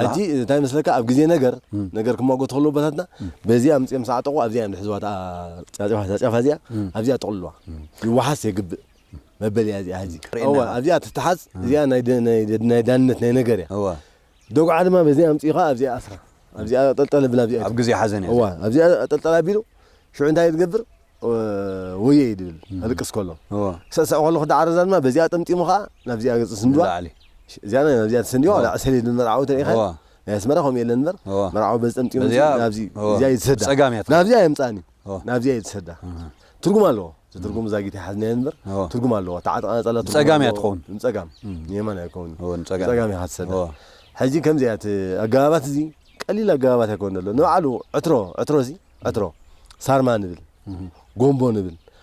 ሕጂ እንታይ መስለካ ኣብ ግዜ ነገር ነገር ክማጎት ከሎ ቦታትና በዚ ኣምፅኦም ሰዓጠቑ ኣብዚኣ እዮም ዝሕዝዋ እታ ጫጨፋ እታ ጫፋ እዚኣ ኣብዚኣ ጠቕልልዋ ይወሓስ የግብእ መበሊያ እዚኣ ሕጂ እዋ ኣብዚኣ ትተሓዝ እዚኣ ናይ ደ- ናይ ደ- ናይ ዳንነት ናይ ነገር እያ እዋ ዶግዓ ድማ በዚኣ ኣምጺእኻ ኣብዚኣ ኣስራ ኣብዚኣ ኣጠልጠል ኣብል ኣብዚኣ ኣብ ግዜ ሓዘን እያ እዋ ኣብዚኣ ኣጠልጠል ኣቢሉ ሽዑ እንታይ ዝገብር ወየ ይብል ኣልቅስ ከሎ ሰሰዕ ከሎ ክዳዓረዛ ድማ በዚኣ ጠምጢሙ ከዓ ናብዚኣ ገጽ ስንድዋ እዚኣ ናብዚኣ ተሰንዲዋ ላዕ ሰሌድ ንመርዓዊ ተሪኢኻ ናይ ኣስመራ ከምኡ የለን እምበር መርዓዊ በዚ ጠምጢሙ ናብዚ እዚኣ ይትሰዳ ናብዚኣ የምጽኣኒ ናብዚኣ እየ ዝሰዳ ትርጉም ኣለዎ ትርጉም ዛጊት ይሓዝናዮ እንበር ትርጉም ኣለዎ ተዓጥቃ ነፀላ ንፀጋም እያ ትኸውን ንፀጋም ንየማን ኣይከውን ንፀጋም እያ ትሰዳ ሕጂ ከምዚ እያ እቲ ኣገባባት እዚ ቀሊል ኣገባባት ኣይኮነ ኣሎ ንባዕሉ ዕትሮ ዕትሮ እዚ ዕትሮ ሳርማ ንብል ጎንቦ ንብል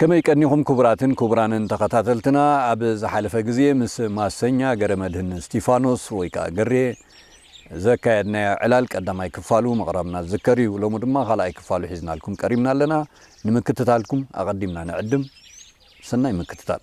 ከመይ ቀኒኹም ክቡራትን ክቡራንን ተኸታተልትና ኣብ ዝሓለፈ ግዜ ምስ ማሰኛ ገረመድህን እስቲፋኖስ ወይ ከኣ ገሬ ዘካየድናዮ ዕላል ቀዳማይ ክፋሉ ምቕራብና ዝዝከር እዩ ሎሚ ድማ ካልኣይ ክፋሉ ሒዝናልኩም ቀሪብና ኣለና ንምክትታልኩም ኣቐዲምና ንዕድም ሰናይ ምክትታል።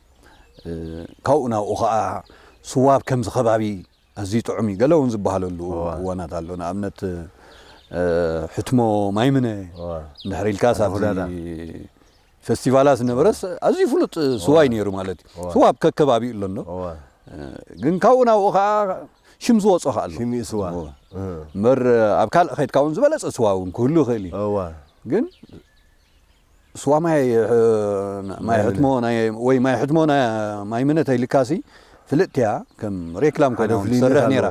ካብኡ ናብኡ ኸኣ ስዋ ኣብ ከምዚ ከባቢ ኣዝዩ ጥዑም እዩ ገለ እውን ዝበሃለሉ እዋናት ኣሎ ንኣብነት ሕትሞ ማይምነ እንድሕር ኢልካስ ኣብዚ ፈስቲቫላት ዝነበረስ ኣዝዩ ፍሉጥ ስዋ እዩ ነይሩ ማለት እዩ ስዋ ኣብ ከከባቢኡ ኣሎ እንዶ ግን ካብኡ ናብኡ ከዓ ሽም ዝወፆ ከዓ ኣሎ ሽም ስዋ እምበር ኣብ ካልእ ከድካ እውን ዝበለፀ ስዋ እውን ክህሉ ይኽእል እዩ ግን ስዋ ማይ ማይ ሕትሞ ወይ ማይ ሕትሞ ማይ ምነ ተይልካሲ ፍልጥቲያ ከም ሬክላም ኮይና ትሰርሕ ነራ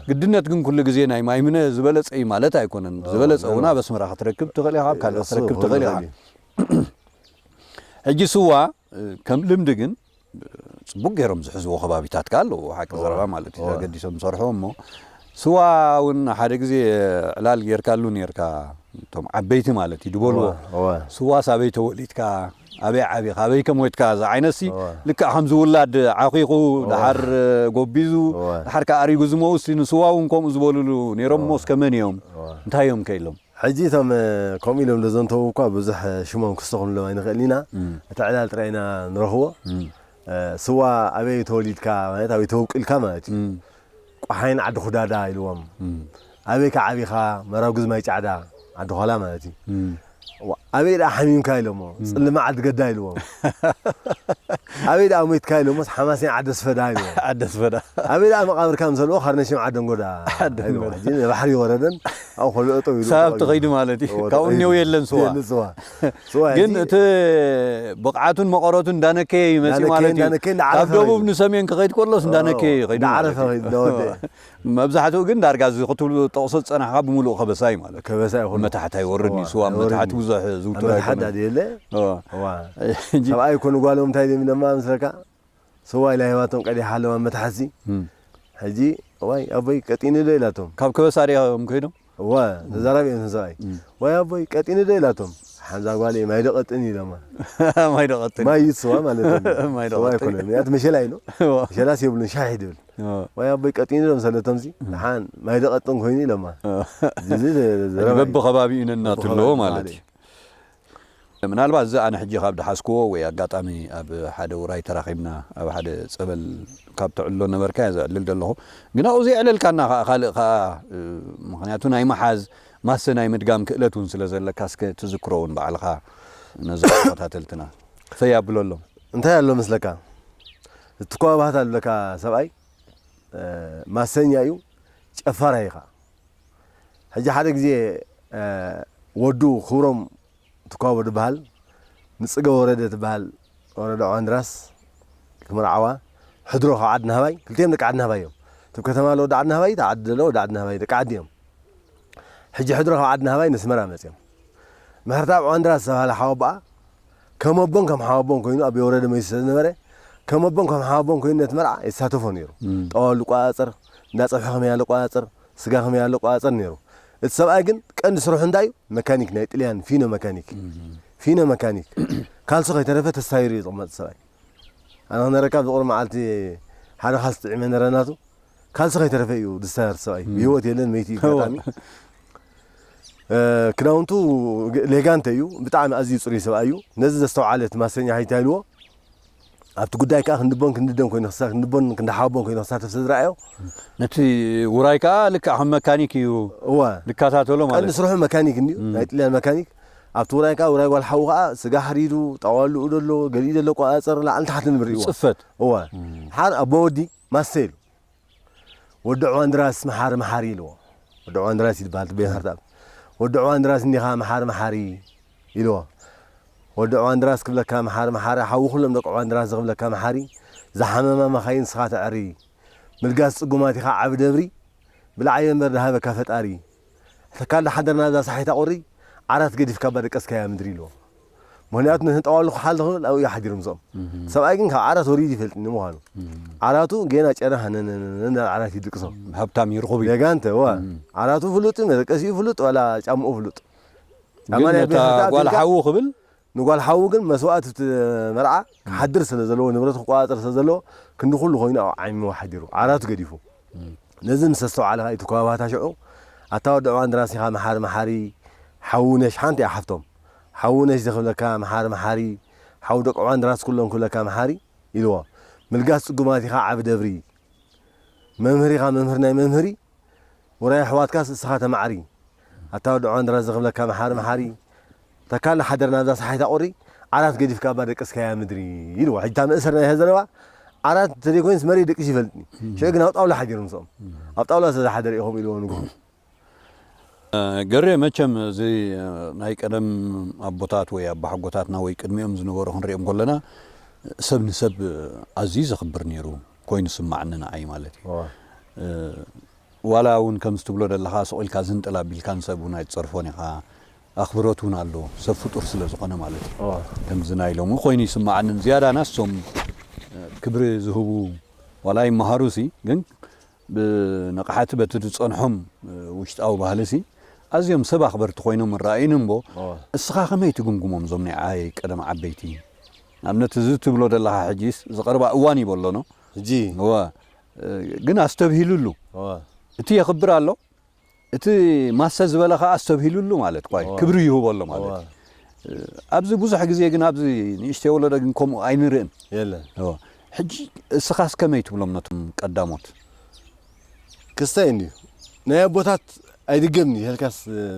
ግድነት ግን ኩሉ ግዜ ናይ ማይ ምነ ዝበለጸ እዩ ማለት ኣይኮነን ዝበለጸ እውን ኣብ ኣስመራ ክትረክብ ትኽእል ኢኻ ካልእ ክትረክብ ትኽእል ኢኻ ሕጂ ስዋ ከም ልምዲ ግን ጽቡቅ ጌሮም ዝሕዝዎ ከባቢታት ከኣ ኣለዎ ሓቂ ዘረባ ማለት እዩ ተገዲሶም ዝሰርሕዎ እሞ ስዋ ውን ሓደ ግዜ ዕላል ጌርካሉ ኔርካ እቶም ዓበይቲ ማለት እዩ ድበልዎ ስዋስ ኣበይ ተወሊድካ ኣበይ ዓቢኻ ኣበይ ከም ወትካ ዝዓይነትሲ ልክዕ ከምዚ ውላድ ዓኺኹ ድሓር ጎቢዙ ድሓር ከኣ ኣሪጉ ዝመውሲ ንስዋ ውን ከምኡ ዝበልሉ ኔሮም እሞ እስከ መን እዮም እንታይ እዮም ከኢሎም ሕጂ እቶም ከምኡ ኢሎም ዘዘንተዉ እኳ ብዙሕ ሽሞም ክስተኹንሎም ኣይንኽእልን ኢና፣ እቲ ዕላል ጥራይ ኢና ንረኽቦ። ስዋ ኣበይ ተወሊድካ ማለት ኣበይ ተወቂልካ ማለት እዩ። ቋሓይን ዓዲ ኹዳዳ ኢልዎም። ኣበይከ ዓቢኻ? መራጉዝ ማይ ጫዕዳ፣ ዓዲ ዃላ ማለት እዩ። ኣበይ ደኣ ሓሚምካ ኢሎሞ፣ ጽልማ ዓዲ ገዳ ኢልዎም። ኣበይ ደኣ ሞይትካ ኢሎሞስ፣ ሓማሴን ዓዲ ኣስፈዳ ኢልዎም። ኣበይ ደኣ መቓብርካ ምሰልዎ፣ ካርነሽም ዓደንጎዳ ኢልዎም። ሕጂ ንባሕሪ ወረደን። ኣብኡ ከሎ እጠው ኢሉ ሳብቲ ተቐቢሉ። ከይዱ ማለት እዩ። እዎ፣ ካብኡ ተቐቢሉ። እኔው የለን ስዋ። የለን ስዋ። ስዋ ግን ሕጂ- እቲ ብቕዓቱን መቐረቱን እንዳነከየ እዩ መፂኡ እንዳነከየ- ማለት እዩ። እንዳነከየ ካብ እንዳዓረፈ ደቡብ ከይዱ። ንሰሜን ክኸይድ ከሎስ እንዳነከየ እዩ ከይዱ ማለት እንዳዓረፈ እዩ። ከይዱ፣ እንዳወደየ። መብዛሕትኡ ግን ዳርጋ እዚ ክትብሉ ጠቕሶ ዝፀናሕኻ ብምሉኡ ከበሳ እዩ ማለት እዩ። ከበሳ እዩ ኩሉ። መታሕት ኣይወርድን እዩ። እዎ፣ ስዋ ኣብ ኣይወርድን መታሕት እዩ። ብዙሕ ዝውቱር ኣብ መታሕት ኣይኮነን። ዳዲ የለ። እዎ። እዋ። ሕጂ- ሰብኣይ እኮ ንጓሎም እንታይ ደም ደማ ምስለካ ሰዋእ ኢላ ሂባቶም ቀዲሓ ኣለዋ መትሓዚ ሕጂ እዋይ ኣቦይ ቀጢኒ ዶ ኢላቶም ካብ ከበሳ ሪኣ እዮም ከይዶም እወ ተዛራቢ እዮም ሰብኣይ ዋይ ኣቦይ ቀጢኒ ዶ ኢላቶም ሓንዛ ጓል እየ ማይ ዶ ቀጥኒ ኢሎማ ማይ ዶ ቀጥኒ ማይ እዩ ስዋ ማለት ማይ ዶ ቀጥኒ ኣይኮነን ምክንያቱ መሸላ ኢሉ መሸላስ የብሉን ሻሕ ድብል ወይ ኣቦይ ቀጢኒ ዶ ምሰለቶም ሲ ሓን ማይ ዶ ቀጥን ኮይኑ ኢሎማ እዚ በብከባቢኡ ነናቱ ኣለዎ ማለት እዩ ምናልባት እዚ ኣነ ሕጂ ካብ ድሓዝክዎ ወይ ኣጋጣሚ ኣብ ሓደ ውራይ ተራኺብና ኣብ ሓደ ጸበል ካብ ተዕልሎ ነበርካ እየ ዘዕልል ዘለኹ ግን ኣብኡ ዘየዕለልካና ከኣ ካልእ ከኣ ምኽንያቱ ናይ ምሓዝ ማሰ ናይ ምድጋም ክእለት እውን ስለ ዘለካ እስከ ትዝክሮ እውን ባዕልኻ ነዞም ተኸታተልትና ፈይ ኣብለሎም። እንታይ ኣሎ መስለካ እቲ ኮባ ባህታ ዝብለካ ሰብኣይ ማሰኛ እዩ ጨፋራይ እዩ ከኣ። ሕጂ ሓደ ግዜ ወዱ ክብሮም ትኳቦ ድበሃል ንጽገ ወረደ ትበሃል ወረዳ ዖዋንድራስ ክምርዓዋ ሕድሮ ካብ ዓድናህባይ ክልቲኦም ደቂ ዓድናህባይ እዮም እቲ ብ ከተማ ዘሎ ወዲ ዓድናህባይ እቲ ኣብ ዓዲ ዘሎ ወዲ ዓድናህባይ ደቂ ዓዲ እዮም ሕጂ ሕድሮ ካብ ዓድናህባይ ነስመራ መጽዮም ምሕርትኣብ ዖዋንድራስ ዝተበሃለ ሓወቦኣ ከም ኣቦን ከም ሓወቦን ኮይኑ ኣብ የውረደ መይሱ ስለ ዝነበረ ከም ኣቦን ከም ሓወቦን ኮይኑ ነቲ መርዓ የሳተፎ ነይሩ። ጠዋሉ ይቆጻጸር፣ እንዳ ጸብሒ ከመይ ኣለ ይቆጻጸር፣ ስጋ ከመይ ኣለ ይቆጻጸር ነይሩ። እቲ ሰብኣይ ግን ቀንዲ ስርሑ እንታይ እዩ? መካኒክ ናይ ጥልያን ፊኖ መካኒክ ፊኖ መካኒክ ካልሶ ከይተረፈ ተሳይሩ እዩ ዝቕመጥ ሰብኣይ። ኣነ ክነረካ ኣብዚ ቁሩብ መዓልቲ ሓደ ካልሲ ጥዒመ ነረናቱ ካልሲ ከይተረፈ እዩ ዝሳየር ሰብኣይ። ብህይወት የለን መይቲ እዩ ኣጋጣሚ ክዳውንቱ ሌጋንተ እዩ ብጣዕሚ ኣዝዩ ጽሩይ ሰብኣይ እዩ ነዚ ዘስተውዓለ እቲ ማሰኛ ሃይታ ኢልዎ ኣብቲ ጉዳይ ከዓ ክንድቦን ክንድደን ኮይኑ ክሳ ክንድቦን ክንዳሓቦን ኮይኑ ክሳተፍ ስለዝረኣዮ ነቲ ውራይ ከዓ ልክዕ ከም መካኒክ እዩ እወ ዝከታተሎ ቀንዲ ማለት ስርሑ መካኒክ እንድዩ ናይ ጥልያን መካኒክ ኣብቲ ውራይ ከዓ ውራይ ጓል ሓዉ ከዓ ስጋ ሓሪዱ ጣዋልኡ ደሎ ገሊኡ ደሎ ቆፃፀር ላዕልን ታሕትን እዩ እዩ ብርእይዎ ፅፈት እወ ሓር ኣቦ ወዲ ማሰ ኢሉ ወዲ ዕዋንድራስ መሓሪ መሓሪ ኢልዎ። ወዲ ዕዋንድራስ እዩ ዝበሃል እቲ ቤት ሃርታም። ወዲ ዕዋንድራስ እንዲኻ መሓሪ መሓሪ ኢልዎ። ወዲ ዕዋንድራስ ክብለካ መሓሪ መሓሪ ሓዊ ኩሎም ደቂ ዕዋንድራስ ዝኽብለካ መሓሪ ዝሓመማ መኻይን ንስኻ ተዐሪ ምልጋስ ጽጉማት ኢኻ ዓቢ ደብሪ ብልዓዮ እምበር ድሃበካ ፈጣሪ። ተካል ዳሓደር ናዛ ሳሒታ ቁሪ ዓራት ገዲፍካ እባ ደቀስካያ ምድሪ ኢልዎ ምክንያቱ ነቲ ጠዋሉ ክሓል ዝክብል ኣብኡ እዩ ሓዲሩ ምስኦም እቲ ሰብኣይ ግን ካብ ዓራት ወሪዱ ይፈልጥ ንምኳኑ ዓራቱ ጌና ጨና ሃነነነነ ናብ ዓራት እዩ ድቅሶ ሃብታም እዩ ርኹብ እዩ ጌጋ እንተ እወ ዓራቱ ፍሉጥ እዩ መደቀሲኡ ፍሉጥ ዋላ ጫምኡ ፍሉጥ ግን ነታ ጓል ሓዉ ክብል ንጓል ሓዉ ግን መስዋእት እቲ መርዓ ክሓድር ስለ ዘለዎ ንብረት ክቆጻጸር ስለ ዘለዎ ክንዲ ኩሉ ኮይኑ ኣብ ዓሚሞ ሓዲሩ ዓራቱ ገዲፉ ነዚ ምስ ኣስተውዓለ ከኣ ኢቱ ከባባታ ሽዑ ኣታ ወዲ ዕዋን ድራስ ኢኻ መሓሪ መሓሪ ሓዉ ነሽ ሓንቲ እያ ሓፍቶም ሓዉ ነሽ ዝክብለካ መሓሪ መሓሪ ሓዉ ደቂ ዕዋን ድራስ ኩሎም ክብለካ መሓሪ ኢልዎ ምልጋስ ጽጉማት ኢኻ ዓቢ ደብሪ መምህር ኢኻ መምህር ናይ መምህሪ ውራይ ኣሕዋትካስ እስኻ ተማዕሪ ኣታ ወዲ ዕዋን ድራስ ዝክብለካ መሓሪ መሓሪ ተካል ሓደር ናብዛ ሰሓይታ ቁሪ ዓራት ገዲፍካ እባ ደቅስካያ ምድሪ ኢልዋ ሕጂ እታ መእሰር ናይ ሀዘረባ ዓራት እንተዘይ ኮይንስ መሬት ደቂሱ ይፈልጥኒ ሽዑ ግን ኣብ ጣውላ ሓዲሩ ምስኦም ኣብ ጣውላ ስለ ዝሓደረ ኢኹም ኢልዎ ንግሆ ገሬ መቸም እዚ ናይ ቀደም ኣቦታት ወይ ኣባሓጎታትና ወይ ቅድሚኦም ዝነበሩ ክንሪኦም ከለና ሰብ ንሰብ ኣዝዩ ዘኽብር ነይሩ ኮይኑ ስማዕኒ ንዓይ ማለት እዩ ዋላ እውን ከምዚ ትብሎ ዘለኻ ስቑኢልካ ዝንጥል ኣቢልካ ንሰብ እውን ኣይትፀርፎን ኢኻ ኣኽብሮት ውን ኣለዎ ሰብ ፍጡር ስለ ዝኾነ ማለት እዩ ከምዚ ናይ ሎሚ ኮይኑ ይስማዓኒ ዝያዳ ናስ ሶም ክብሪ ዝህቡ ዋላ ይማሃሩ ሲ ግን ብንቕሓቲ በቲ ዝጸንሖም ውሽጣዊ ባህሊ ሲ ኣዝዮም ሰብ ኣኽበርቲ ኮይኖም ይረኣዩኒ እምቦ እስኻ ከመይ ትግምግሞም ዞም ናይ ዓይ ቀደም ዓበይቲ ንኣብነት እዚ ትብሎ ዘለኻ ሕጂስ ዝቐርባ እዋን እዩ በሎኖ ሕጂ እወ ግን ኣስተብሂልሉ እቲ የኽብር ኣሎ እቲ ማሰ ዝበለ ከኣ ኣስተብሂሉሉ ማለት ኳይ ክብሪ ይህቦ ኣሎ ማለት እዩ። ኣብዚ ብዙሕ ግዜ ግን ኣብዚ ንእሽተይ ወለዶ ግን ከምኡ ኣይንርእን። የለን። ሕጂ እስኻስ ከመይ ትብሎም ነቶም ቀዳሞት? ክስታይ እንድዩ ናይ ኣቦታት ኣይድገምን'ዩ ኢልካስ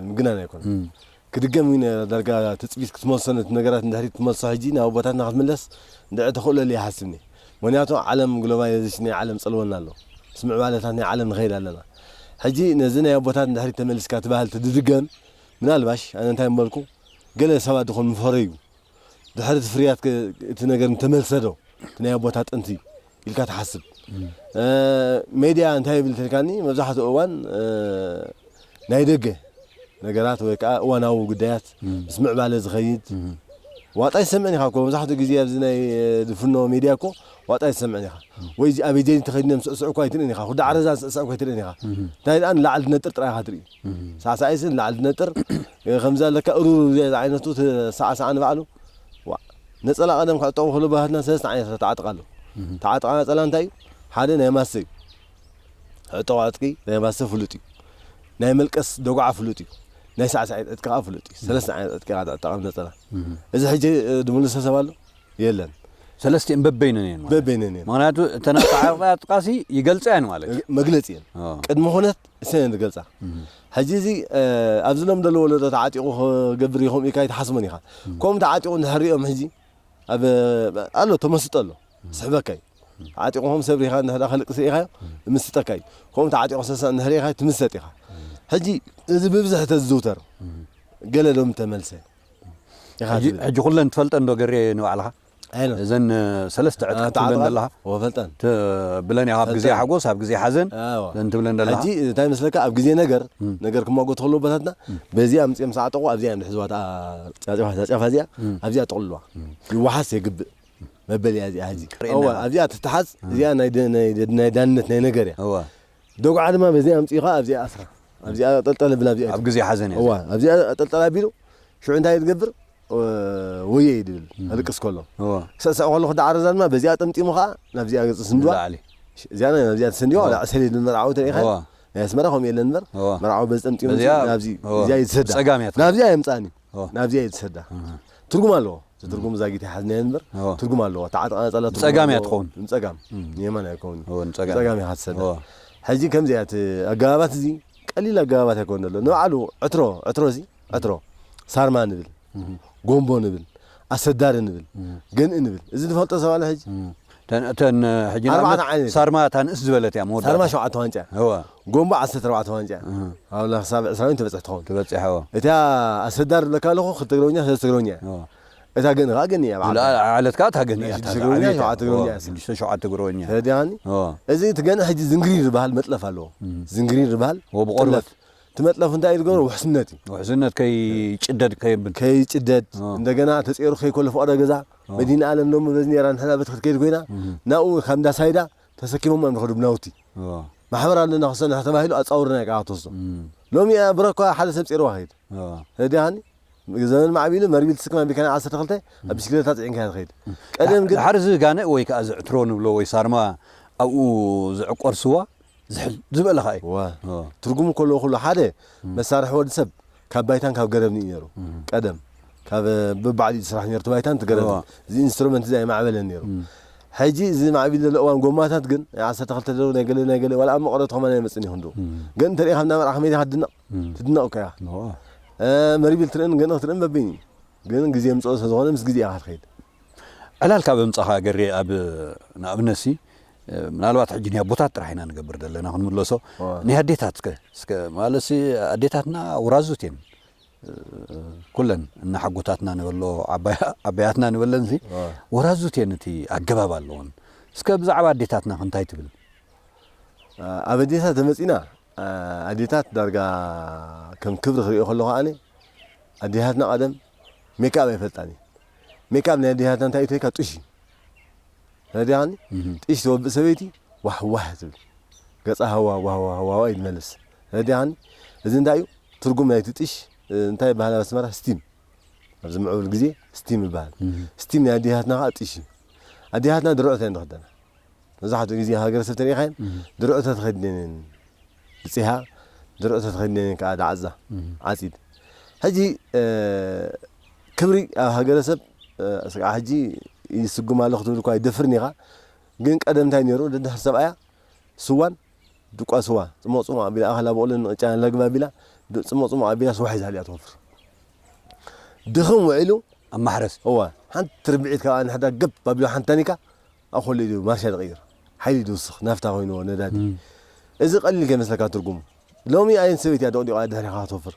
ምግናን ኣይኮነን። ክድገም እዩ ነይራ ዳርጋ ትጽቢት ክትመልሶ ነቲ ነገራት ንድሕሪት ክትመልሶ ሕጂ ናብ ኣቦታትና ክትምለስ ድዒ ተኽእሎ ኣሉ ይሓስብ እኔ ምኽንያቱ ዓለም ግሎባላይዘሽን ናይ ዓለም ጸልወና ኣሎ ምስ ምዕባለታት ናይ ዓለም ንኸይድ ኣለና ሕጂ ነዚ ናይ ኣቦታት ንድሕሪት ተመሊስካ እቲ ባህል ትድድገም ምናልባሽ ኣነ እንታይ ምበልኩ ገለ ሰባት ድኾን ምፈረዩ ድሕሪ እቲ ፍርያት ከ እቲ ነገር እንተመልሰ ዶ እቲ ናይ ኣቦታት ጥንቲ ኢልካ ትሓስብ? ሜድያ እንታይ ይብል እንተልካኒ መብዛሕትኡ እዋን ናይ ደገ ነገራት ወይ ከዓ እዋናዊ ጉዳያት ምስ ምዕባለ ዝኸይድ ዋጣ ይሰምዕን ኢኻ እኮ መብዛሕትኡ ግዜ ኣብዚ ናይ ድፍኖ ሜድያ እኮ ዋጣ ይሰምዕን ኢኻ ወይ ኣብዚ ኣበጀኒ ተኸዲኖም ስዕስዑ እኳ ኣይትርእን ኢኻ ኩዳ ዓረዛ ስዕስዑ እኳ ኣይትርእን ኢኻ እንታይ ደኣ ንላዕሊ ትነጥር ጥራይ ኢኻ ትርኢ ሳዕሳዒትሲ ንላዕሊ ትነጥር ከምዚ ኣለካ እሩሩሩ ዘይ ዝዓይነቱ ሳዕሳዓ ንባዕሉ ዋእ ነጸላ ቀደም ክዕጠቑ ከሎ ባህትና ሰለስተ ዓይነት ተዓጥቃ ኣሎ ተዓጥቃ ነጸላ እንታይ እዩ ሓደ ናይ ማሰ እዩ ዕጠቑ ዕጥቂ ናይ ማሰ ፍሉጥ እዩ ናይ መልቀስ ደጉዓ ፍሉጥ እዩ ናይ ሳዕሳዒት ዕጥቂ ከዓ ፍሉጥ እዩ ሰለስተ ዓይነት ዕጥቂ ኢኻ ትዕጠቕ ኣብ ነጸላ እዚ ሕጂ ድምልሶ ሰብ ኣሎ የለን። ሰለስቲኤን በበይነን እየን ማለት በበይነን እየን ምክንያቱ እተን ኣተዓራቕያ ኣጥቃሲ ይገልጻ እየን ማለት እዩ መግለጺ እየን አዎ። ቅድሚ ኩነት እሰን እየን ዝገልጻ ሕጂ እዚ እ፣ ኣብዚ ሎም ዘሎ ወለዶ ተዓጢቑ ክገብር እዩ ከምኡ ኢልካ ኣይትሓስቦን ኢኻ ከምኡ ተዓጢቑ እንድሕር ሪኦም ሕጂ ኣብ ኣሎ ተመስጦ ኣሎ ስሕበካ እዩ ተዓጢቑ ከም ሰብ ሪኻ እንድሕር ከልቅስ ሪኢኻዮ ዝምስጠካ እዩ ከምኡ ተዓጢቑ ሰሰዕ እንድሕር ሪኢኻዮ ትምሰጥ ኢኻ ሕጂ እዚ ብብዝሒ ተዝዝውተር ገለ ሎም ተመልሰ ኢኻ ትብል። ሕጂ ኩለን ትፈልጠን ዶ ገሬ ንባዕልኻ ኣይኖ እዘን ሰለስተ ዕጥቂ ትብለን ተዓጥቓን ዘለኻ ወፈልጠን ት- ብለን ኢኻ ኣብ ግዜ ፈልጠን። ሓጎስ ኣብ ግዜ ሓዘን ኣዎ። ዘን ትብለን ዘለኻ ሕጂ እንታይ መስለካ ኣብ ግዜ ነገር ነገር ክማጎቱ ከለዉ ኣቦታትና በዚኣ ኣምጺኦም ሰዓጠቑ ኣብዚኣ እዮም ዝሕዝዋ እታ ጫጨፋ ጫጨፋ እዚኣ ኣብዚኣ ጠቕልሉዋ ይወሓስ የግብእ መበሊኣ እዚኣ ሕጂ ርእየና እዋ ኢና። ኣብዚኣ ትተሓዝ እዚኣ ናይ ደ- ናይ ደ- ናይ ዳንነት ናይ ነገር እያ እወ ዶግዓ ድማ በዚኣ ኣምጺእኻ ኣብዚኣ ኣስራ ኣብዚኣ ኣጠልጠል ኣብል ኣብዚኣ ኣብ ግዜ ሓዘን እያ እዋ ኣብዚኣ ኣጠልጠል ኣቢሉ ሽዑ እንታይ ዝገብር ወየ ይብል ኣልቅስ ከሎ ሰሰዕ ከሎ ክዳዓረዛ ድማ በዚኣ ጠምጢሙ ከዓ ናብዚኣ ገጽ ስንድዋ እዚኣ ናብዚኣ ተሰንዲዋ ላዕ ሰሌድ ንመርዓዊ ተሪኢኻ ናይ ኣስመራ ከምኡ የለን እምበር መርዓዊ በዚ ጠምጢሙ ናብዚ እዚኣ ይትሰዳ ናብዚኣ የምጽኣኒ ናብዚኣ እዩ ዝሰዳ ትርጉም ኣለዎ እቲ ትርጉም ዛጊት ይሓዝናዮ እንበር ትርጉም ኣለዎ እታ ዓጥቓ ነፀላ ንፀጋም እያ ትኸውን ንፀጋም ንየማን ኣይከውን ንፀጋም እያ ትሰዳ ሕጂ ከምዚ እያ እቲ ኣገባባት እዚ ቀሊል ኣገባባት ኣይኮን ዘሎ ንባዕሉ ዕትሮ ዕትሮ እዚ ዕትሮ ሳርማ ንብል ጎንቦ ንብል ኣሰዳሪ ንብል ገንኢ ንብል እዚ ዝፈልጦ ሰብ ኣሎ ሕጂ እተን እተን ሕጂ ኣርባዕተ ንኣብነት ዓይነት ሳርማ እታ ንእስ ዝበለት እያ መወዳእታ ሳርማ ሸውዓተ ዋንጫ እያ እወ ጎንቦ ዓሰርተ ኣርባዕተ ዋንጫ እያ እህ ኣብላ ክሳብ ዕስራ ዊን ተበጽሕ ትኸውን ተበጺሐ እወ እታ ኣሰዳር ዝብለካ ኣለኹ ክልተ ትግረኛ ሰለስተ ትግረኛ እያ እወ እታ ገንኢ ከኣ ገንኢ እያ ብዓል ዝለኣ ዓለት ከኣ እታ ገንኢ ናይ እያ እታ ሽዱሽተ ትግረኛ ዝዓበየት እያ ሸውዓተ እወ ትግረኛ እያ እሳ ሽዱሽተ ሸውዓተ ግሮኛ እያ ተረዲኻኒ እወ እዚ እቲ ገንኢ ሕጂ ዝንግሪር ዝበሃል መጥለፍ ኣለዎ ዝንግሪር ዝበሃል እወ ጥለፍ ብቆርበት እቲ መጥለፍ እንታይ እዩ ዝገብሮ ውሕስነት እዩ ውሕስነት ከይጭደድ ከየብል ከይጭደድ እወ እንደገና ተጸይሩ ከይኮለፍ ዋዕሮ ገዛ መዲናኣለም ሎሚ በዚ ኔራ ንሕና በቲ ክትከይድ ኮይና ናብኡ ውን ካብ እንዳሳይዳ ተሰኪሞም እዮም ዝኸዱ ብናውቲ ማሕበር ኣለና ክሰንሐ ተባሂሉ ኣጻውርና እዩ ክኣቶሶ ሎሚ እያ ብረኳ ሓደ ሰብ ጼርዋ ከይድ ረዲኣኒ ዘመን ማዕቢሉ መርቢል ትስክማ ቢካና ዓሰርተ ክልተ ኣብ ብሽክሌታ ጽዒንካ እያ ትኸይድ ቀደም ግን ድሓር እዚ ጋንእ ወይ ከኣ እዚ ዕትሮ ንብሎ ወይ ሳርማ ኣብኡ ዝዕቆር ስዋ ዝሕል ዝበለ ከኣ እዩ። እወ፣ ትርጉሙ ከለዉ ኩሉ ሓደ መሳርሒ ወዲ ሰብ ካብ ባይታን ካብ ገረብን እዩ ነይሩ። ቀደም ካብ በባዕሉ እዩ ዝስራሕ ነይሩ እቲ ባይታን እቲ ገረብን። እወ። እዚ ኢንስትሩመንት እዚ ኣይማዕበለን ነይሩ። እም። ሕጂ እዚ ማዕቢሉ ዘሎ እዋን ጎማታት ግን ናይ ዓሰርተ ክልተ ደርቢ ናይ ገለ ናይ ገለ ዋላ ኣብ መቐረቱ ከማን ኣይመጽእን እዩ ክንድኡ። እም። ግን እንተርኢኻ እንዳ መርዓ ከመይ ዲኻ ትድነቕ? እም። ትድነቕ እኮ ኢኻ። እወ። እም መሪቢል ትርእን ገንኢ ክትርእን በበይኑ እዩ። ግን ግዜ የምጽኦ ስለዝኾነ ምስ ግዜ ኢኻ ትኸይድ። ዕላል ካብ ኣምጻኻ ገሬ ኣብ ንኣብነትሲ ምናልባት ሕጂ ናይ ኣቦታት ጥራሕ ኢና ንገብር ዘለና ክንምለሶ ናይ ኣዴታት ከ እስከ ማለትሲ ኣዴታትና ውራዙት እየን ኩለን እና ሓጎታትና ንበሎ ዓባያትና ንበለን ሲ ወራዙት እየን እቲ ኣገባብ ኣለዎን እስከ ብዛዕባ ኣዴታትና ክንታይ ትብል ኣብ ኣዴታት ተመጺና ኣዴታት ዳርጋ ከም ክብሪ ክሪኦ ከለኹ ኣነ ኣዴታትና ቀደም ሜክኣብ ኣይፈልጣን እየን ሜክኣብ ናይ ኣዴታትና እንታይ እዩ ተይካ ጡሽ እዩ ነዲኣኒ ጢሽ ዘወብእ ሰበይቲ ዋሕ ዋሕ ትብል ገጻ ሃዋ ዋህዋ ሃዋዋ ኢሉ መለስ ነዲኣኒ እዚ እንታይ እዩ ትርጉም ናይቲ ጢሽ እንታይ ይበሃል ኣብ ኣስመራ ስቲም ኣብዚ ምዕቡል ግዜ ስቲም ይበሃል ስቲም ናይ ኣዴታትና ከዓ ጢሽ እዩ ኣዴታትና ድርዕቶ እየን ዝኽደና መብዛሕትኡ ግዜ ሃገረሰብ ተሪኢኻየን ድርዕቶ ተኸዲነን እየን ብጺሓ ድርዑ ተተኺድኔን ከኣ ዳዕዛ ዓጺድ ሕጂ ክብሪ ኣብ ሃገረሰብ ስጋዕ ሕጂ ይስጉም ኣሎ ክትብል እኳ ኣይደፍርን ኢኻ ግን ቀደም እንታይ ነይሩ ደድሕሪ ሰብኣያ ስዋን ድቋ ስዋ ጽሞቕ ጽሞቕ ኣቢላ ኣኸላ በቕሎን ቅጫን ለግባ ኣቢላ ጽሞቕ ጽሞቕ ኣቢላ ስዋ ሒዛ ድያ ትወፍር ድኽም ውዒሉ ኣብ ማሕረስ እወ ሓንቲ ርብዒት ካብኣ ንሕዳ ገብ ኣቢሉ ሓንቲ ታኒካ ኣብ ኮለይ ድዩ ማርሻ ድቕይር ሓይሊ ድውስኽ ናፍታ ኮይንዎ ነዳዲ እዚ ቀሊል ከይመስለካ ትርጉሙ ሎሚ ኣየንቲ ሰበይቲ እያ ዶቕዲቓ ደድሕሪኻ ክትወፍር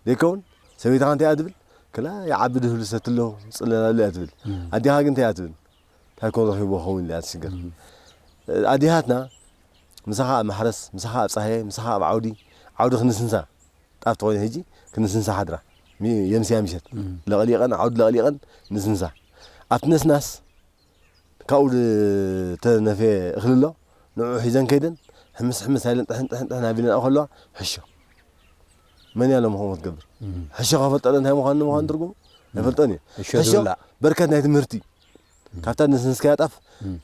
ዘይከውን ሰበይትኻ እንታይ እያ ትብል ክላ ይዓቢ ድህሉ ሰቲ ኣሎ ጽለል ኣሎ እያ ትብል ኣዴኻ ግን እንታይ እያ ትብል እንታይ ኮን ረኺብዎ ኸውን ኢላ እያ ትሽገር ኣዴታትና ምሳኻ ኣብ ማሕረስ ምሳኻ ኣብ ጻህያይ ምሳኻ ኣብ ዓውዲ ዓውዲ ክንስንሳ ጣፍ ተኾይነ ህጂ ክንስንሳ ሓድራ የምስያ ምሸት ለቕሊቐን ዓውዲ ለቕሊቐን ንስንሳ ኣብቲ ነስናስ ካብኡ ዝተነፍየ እኽሊ ኣሎ፣ ንዕኡ ሒዘን ከይደን ሕምስ ሕምስ ኣይለን ጥሕን ጥሕን ጥሕን ኣቢለንኦ ከለዋ ሕሾ። መን እያ ሎሚ ከምኡ ክትገብር? ሕሾ ከፈልጠለ እንታይ ምዃኑ ንምዃኑ ትርጉሙ ኣይፈልጦን እዩ። ሕሾ ሕሾ ዝብላዕ። በርከት ናይቲ ምህርቲ እዩ። ካብታ ዝነስነስካያ ጣፍ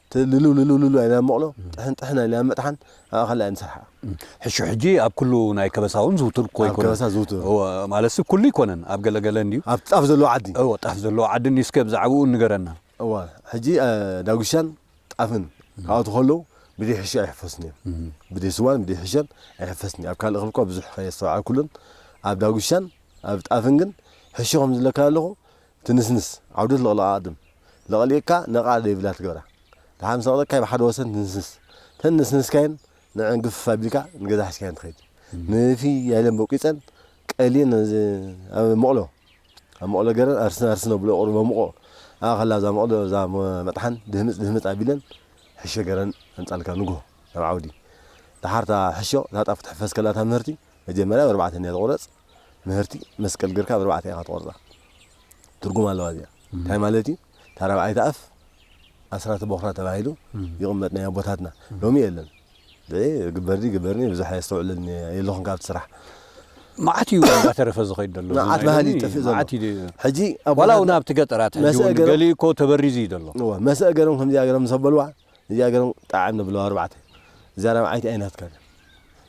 እቲ ልልው ልልው ልልው ኣይለን ኣብ መቕሎ፣ ጥሕን ጥሕን ኣይለን ኣብ መጥሓን ኣብኣ ካልእ ኣይንሰርሓኣ። ሕሾ ሕጂ ኣብ ኩሉ ናይ ከበሳ እውን ዝውቱር እኮ ኣብ ኣይኮነን። ከበሳ ዝውቱር። እወ፣ ማለትሲ ኩሉ ኣይኮነን፣ ኣብ ገለ ገለ እንድዩ። ኣብቲ ጣፍ ዘለዎ ዓዲ። እወ፣ ጣፍ ዘለዎ ዓዲ እንድዩ፣ እስከ ብዛዕብኡ ንገረና። እወ ሕጂ ዳጉሻን ጣፍን ካብኣቱ ከለዉ ብደይ ሕሾ ኣይሕፈሱን እዮም ብደይ ስዋን ብደይ ሕሾን ኣይሕፈስን ኣብ ካልእ ክብል እኳ ብዙሕ ከየስተውዓልኩሉን ኣብ ዳጉሻን ኣብ ጣፍን ግን ሕሾ ከም ዝለካ ኣለኹ ትንስንስ ዓውደት ለቕለቓ ኣድም ለቕሊቕካ ነቓዕ ደይብላ ትገብራ ደሓር ምስ ኣቕለቅካዮ ብሓደ ወሰን ትንስንስ ተን ነስነስካየን ንዐን ግፍፍ ኣቢልካ ንገዛ ሒዝካየን ትኸይድ ንፊ ያለን በቂፀን ቀሊን እዚ ኣብ መቕሎ ኣብ መቕሎ ገረን ኣርስን ኣርስን ኣብሎ ቁሩብ ኣሙቖ ኣብኣ ከላ እዛ መቕሎ እዛ መጥሓን ድህምጽ ድህምጽ ኣቢለን ሕሾ ገረን ኣምጻልካ ንግሆ ናብ ዓውዲ ደሓር እታ ሕሾ እታ ጣፍ ክትሕፈስ ከላ እታ ምህርቲ መጀመርያ ብ ኣርባዕተ እንድያ ትቑረጽ ምህርቲ መስቀል ገርካ ብ ኣርባዕተ ኢኻ ትቖርጻ ትርጉም ኣለዋ እዚኣ እንታይ ማለት እዩ እታ ራብዓይቲ ኣፍ ኣስራተ ቦኽራ ተባሂሉ ይቕመጥ ናይ ኣቦታትና ሎሚ የለን ብዒ ግበርዲ ግበርኒ ብዙሕ ኣየስተውዕለልኒ እየ የለኹን ካብቲ ስራሕ መዓት እዩ እናተረፈ ዝኸይድ ዘሎ መዓት ባህሊ ይጠፍእ ዘሎ መዓት እዩ ሕጂ ዋላ እውን ኣብቲ ገጠራት ሕጂ እውን ገሊኡ እኮ ተበሪዙ እዩ ዘሎ እወ መሰእ ገሮም ከምዚኣ ገሮም ምስ ኣበልዋ እዚኣ ገርም ጣዕም ንብለዋ ኣርባዕተ እዚኣ ራብዓይቲ ኣይናትካን እያ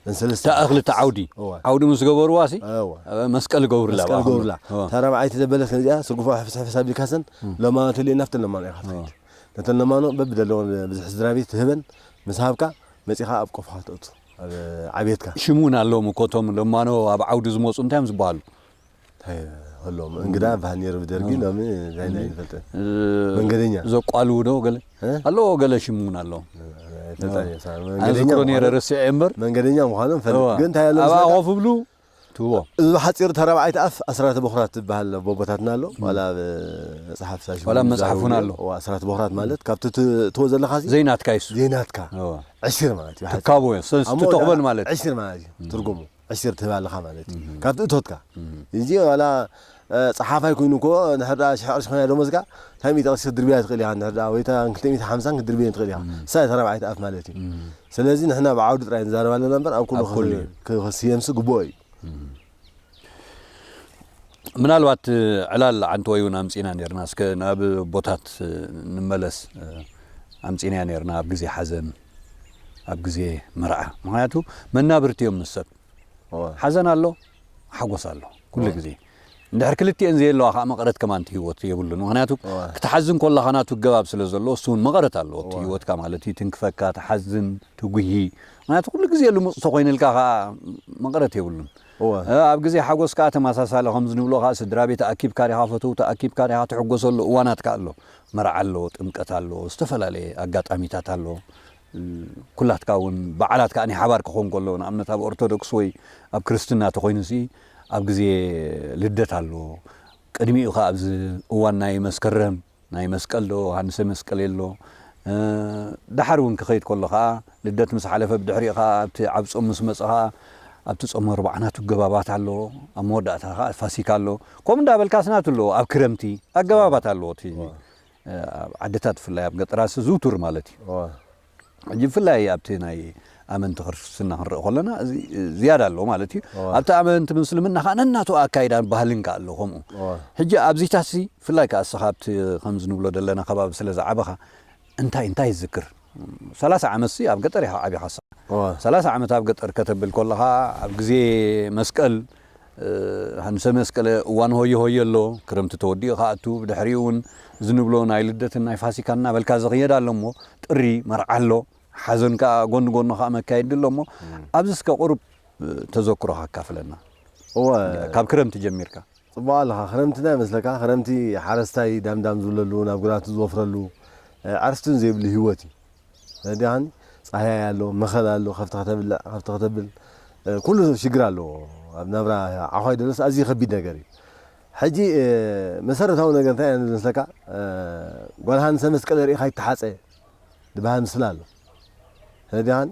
እንሰለስተ እታ ክልተ ዓውዲ እወ። ዓውዲ ምስ ገበርዋሲ እወ። መስቀል ይገብሩላ መስቀል ብኣኹም። ገብርላ እወ። እታ ራብዓይቲ ዘበለት ግን እዚኣ ስርጉፋ ሕፍስ ሕፍስ ኣቢልካሰን ለማኖ ተልየ ናብተን ለማኖ ኢኻ ትኸይድ ነተን ለማኖ በብደለወን ብዝሒ ስድራ ቤት ትህበን ምስ ሃብካ መጺኻ ኣብ ቆፎኻ ተእቱ ኣብ ዓብየትካ ሽም እውን ኣለዎም እኮ እቶም ለማኖ ኣብ ዓውዲ ዝመፁ እንታይ እዮም ዝበሃሉ ሎም እንግዳ ባሃል ነይሩ ብደርጊ ሎሚ ታይ ናይ ንፈልጠን መንገደኛ ዘቋልው ዶ ገለ ኣለዎ ገለ ሽም እውን ኣለዎ ዝክሮ ነረ ርስዐ እምበር መንገደኛ ምዃኖም ፈልጥ ግን እንታይ ኣሎ ኣብኣ ኮፍ ብሉ ትህቦ እዚ ብሓፂሩ ተረብዓይቲ ኣፍ ኣስራተ ቦኽራት ትበሃል ቦቦታትና ኣሎ ዋላ ኣብ መፅሓፍ ሳሽ ዋላ መፅሓፍ እውን ኣሎ ኣስራተ ቦኽራት ማለት ካብቲ ትዎ ዘለካ ዘይናትካ ይሱ ዘይናትካ ዕሽር ማለት እዩ ትካቦ እዮ ተቕበል ማለት ዕሽር ማለት እዩ ትርጉሙ ዕሲር ትህብ ኣለኻ ማለት እዩ ካብቲ እቶትካ እዚ ዋላ ጸሓፋይ ኮይኑ እኮ ንሕርዳ ሽሕ ቅርሺ ኮይና ደሞዝካ እንታይ ሚእቲ ቅርሺ ክትድርብያ ትኽእል ኢኻ ንሕርዳ ወይ እታ ክልተ ሚእቲ ሓምሳን ክትድርብየን ትኽእል ኢኻ እሳ እታ ራብዓይቲ ኣፍ ማለት እዩ ስለዚ ንሕና ኣብ ዓውዲ ጥራይ ንዛረብ ኣለና እምበር ኣብ ኩሉ ክስየምሲ ግብኦ እዩ ምናልባት ዕላል ዓንተወይ እውን ኣምፂና ነርና እስከ ናብ ቦታት ንመለስ ኣምፂናያ ነርና ኣብ ግዜ ሓዘን ኣብ ግዜ መርዓ ምክንያቱ መናብርቲ እዮም ምስ ሰብ ሓዘን ኣሎ ሓጎስ ኣሎ ኩሉ ግዜ እንድሕር ክልቲኤን ዘየለዋ ከዓ መቐረት ከማን እቲ ህይወት የብሉን ምክንያቱ ክትሓዝን ኮላካ ናቱ ገባብ ስለ ዘለዎ እሱ እውን መቐረት ኣለዎ እቲ ህይወትካ ማለት እዩ ትንክፈካ ትሓዝን ትጉሂ ምክንያቱ ኩሉ ግዜ ልሙፅ ተኮይንልካ ከዓ መቐረት የብሉን ኣብ ግዜ ሓጎስ ከዓ ተመሳሳሊ ከምዚ ንብሎ ከዓ ስድራ ቤት ኣኪብካ ዲካ ፈተውቲ ኣኪብካ ዲካ ትሕጎሰሉ እዋናት ከዓ ኣሎ መርዓ ኣሎ ጥምቀት ኣሎ ዝተፈላለየ ኣጋጣሚታት ኣሎ ኩላትካ ውን በዓላት ከኣ ናይ ሓባር ክኾን ከሎ ንኣብነት ኣብ ኦርቶዶክስ ወይ ኣብ ክርስትና ተኾይኑሲ ኣብ ግዜ ልደት ኣሎ ቅድሚኡ ከኣ ኣብዚ እዋን ናይ መስከረም ናይ መስቀል ዶ ዮሃንሰ መስቀል የሎ ደሓር ውን ክኸይድ ከሎ ከኣ ልደት ምስ ሓለፈ ብድሕሪኡ ከኣ ኣብቲ ዓቢ ጾም ምስ መጸ ከኣ ኣብቲ ጾመ ኣርብዓ ናቱ ኣገባባት ኣለዎ፣ ኣብ መወዳእታ ከኣ ፋሲካ ኣሎ፣ ከምኡ እንዳበልካ ኣስናቱ ኣለዎ፣ ኣብ ክረምቲ ኣገባባት ኣለዎ እቲ ሕጂ ኣብ ዓድታት ብፍላይ ኣብ ገጠራትሲ ዝውቱር ማለት እዩ። ሕጂ ብፍላይ ኣብቲ ናይ ኣመንቲ ክርስትና ክንርኢ ከሎና እዚ ዝያዳ ኣሎ ማለት እዩ። ኣብቲ ኣመንቲ ምስልምና ከኣ ነናቱ ኣካይዳን ባህልን ከኣ ኣሎ ከምኡ። ሕጂ ኣብዚታትሲ ብፍላይ ከኣ እስኻ ኣብቲ ከምዚ ንብሎ ዘለና ከባቢ ስለ ዝዓበኻ እንታይ እንታይ ዝዝክር ሰላሳ ዓመትሲ ኣብ ገጠር ኢኻ ዓቢኻሳ ሰላሳ ዓመት ኣብ ገጠር ከተብል ኮለኻ ኣብ ግዜ መስቀል ሃንሰ መስቀለ እዋን ሆየ ሆየ ኣሎ ክረምቲ ተወዲኡ ክኣቱ ብድሕሪኡ እውን እዚ ንብሎ ናይ ልደትን ናይ ፋሲካን እናበልካ ዝኽየድ ኣሎ እሞ ጥሪ መርዓ ኣሎ ሓዘን ከዓ ጎኒ ጎኑ ከዓ መካየዲ ኣሎ እሞ ኣብዚ እስከ ቁሩብ ተዘክሮኻ ኣካፍለና እወ ካብ ክረምቲ ጀሚርካ ጽቡቅ ኣለኻ ክረምቲ እንታይ መስለካ ክረምቲ ሓረስታይ ዳም ዳም ዝብለሉ ናብ ግራቱ ዝወፍረሉ ዕርፍትን ዘይብሉ ሂወት እዩ ረዲኣኒ ጻህያይ ኣሎ መኸል ኣሎ ከፍቲ ከተብልዕ ከፍቲ ከተብል ኩሉ ሽግር ኣለዎ ኣብ ናብራ ዓዃይ ደሎስ ኣዝዩ ከቢድ ነገር እዩ ሕጂ መሰረታዊ ነገር እንታይ እዩ ዝመስለካ ጓል ሃንሰ መስቀለ ርኢኻ ይተሓጸ ድበሃል ምስላ ኣሎ ረዲኣኒ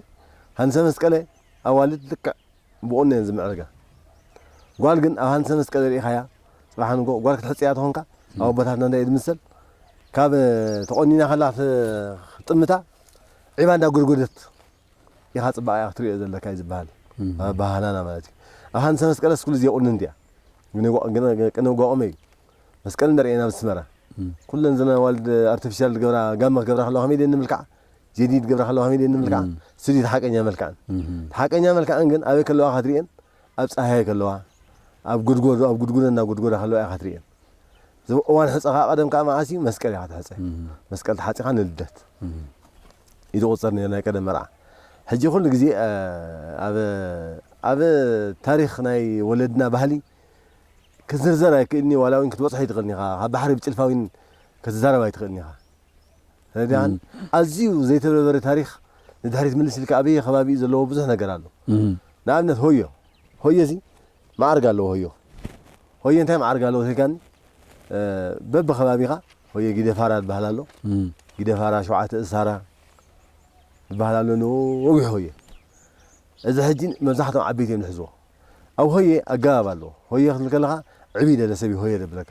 ሃንሰ መስቀለ ኣዋልድ ልክዕ ብቁኖ እየን ዝምዕርጋ ጓል ግን ኣብ ሃንሰ መስቀል ሪኢኻያ ጽባሕ ንግሆ ጓል ክትሕጽ እያ ተኾንካ ኣብ ኣቦታትና እንታይ እዩ ዝምሰል ካብ ተቆኒና ከላ ክትጥምታ ዒባ እንዳ ጎድጎደት ኢኻ ጽባቐያ ክትሪኦ ዘለካ እዩ ዝበሃል ኣብ ባህላና ማለት እዩ ኣብ ሃንሰ መስቀለስ ኩሉ ዘይቁንንቲ እያ ቅነ ጓቆመ እዩ መስቀል እንዳ ርኤና ኣብ ኣስመራ ኩለን ዘና ዋልድ ኣርቲፊሻል ዝገብራ ጋመ ክገብራ ከለዋ ከመይ ድየን ዝምልክዓ ጀዲድ ክገብራ ከለዋ ከመይ ድየን ዝምልክዓ? ስዲ እቲ ሓቀኛ መልክዐን። እቲ ሓቀኛ መልክዐን ግን ኣበይ ከለዋ ኢኻ ትርእየን? ኣብ ጻህያይ ከለዋ፣ ኣብ ጎድጎዶ ኣብ ጉድጉዶ እናጎድጎዳ ከለዋ ኢኻ ትርእየን። እዞም እዋን ሕጸ ከኣ ቀደም ከኣ መዓስ እዩ? መስቀል ኢኻ ትሕጸ። መስቀል ተሓጺኻ ንልደት እዩ ዝቑጸር ነይሩ ናይ ቀደም መርዓ። ሕጂ ኩሉ ግዜ ኣብ ኣብ ታሪኽ ናይ ወለድና ባህሊ ክዝርዘር ኣይክእልን እዩ፣ ዋላ እውን ክትበጽሖ ኣይትኽእልን ኢኻ። ካብ ባሕሪ ብጭልፋ እውን ክትዛረብ ኣይትኽእልን ኢኻ። ረድኣን ኣዝዩ ዘይተበርበረ ታሪኽ ንድሕሪት ምልስ ኢልካ ኣበየ ከባቢ እዩ ዘለዎ ብዙሕ ነገር ኣሎ። ንኣብነት ሆዮ ሆዮዚ መዓርግ ኣለዎ ሆዮ ሆዮ እንታይ መዓርግ ኣለዎ ተይልካኒ በብከባቢኻ ሆዮ ጊደፋራ ዝበሃል ኣሎ ጊደፋራ ሸውዓተ እሳራ ዝበሃል ኣሎ ንወግሒ ሆዮ እዚ ሕጂ መብዛሕቶም ዓበይቲ እዮም ዝሕዝዎ ኣብ ሆየ ኣገባብ ኣለዎ ሆየ ክትብል ከለኻ ዕብይ ደለ ሰብ እዩ ሆየ ደብለካ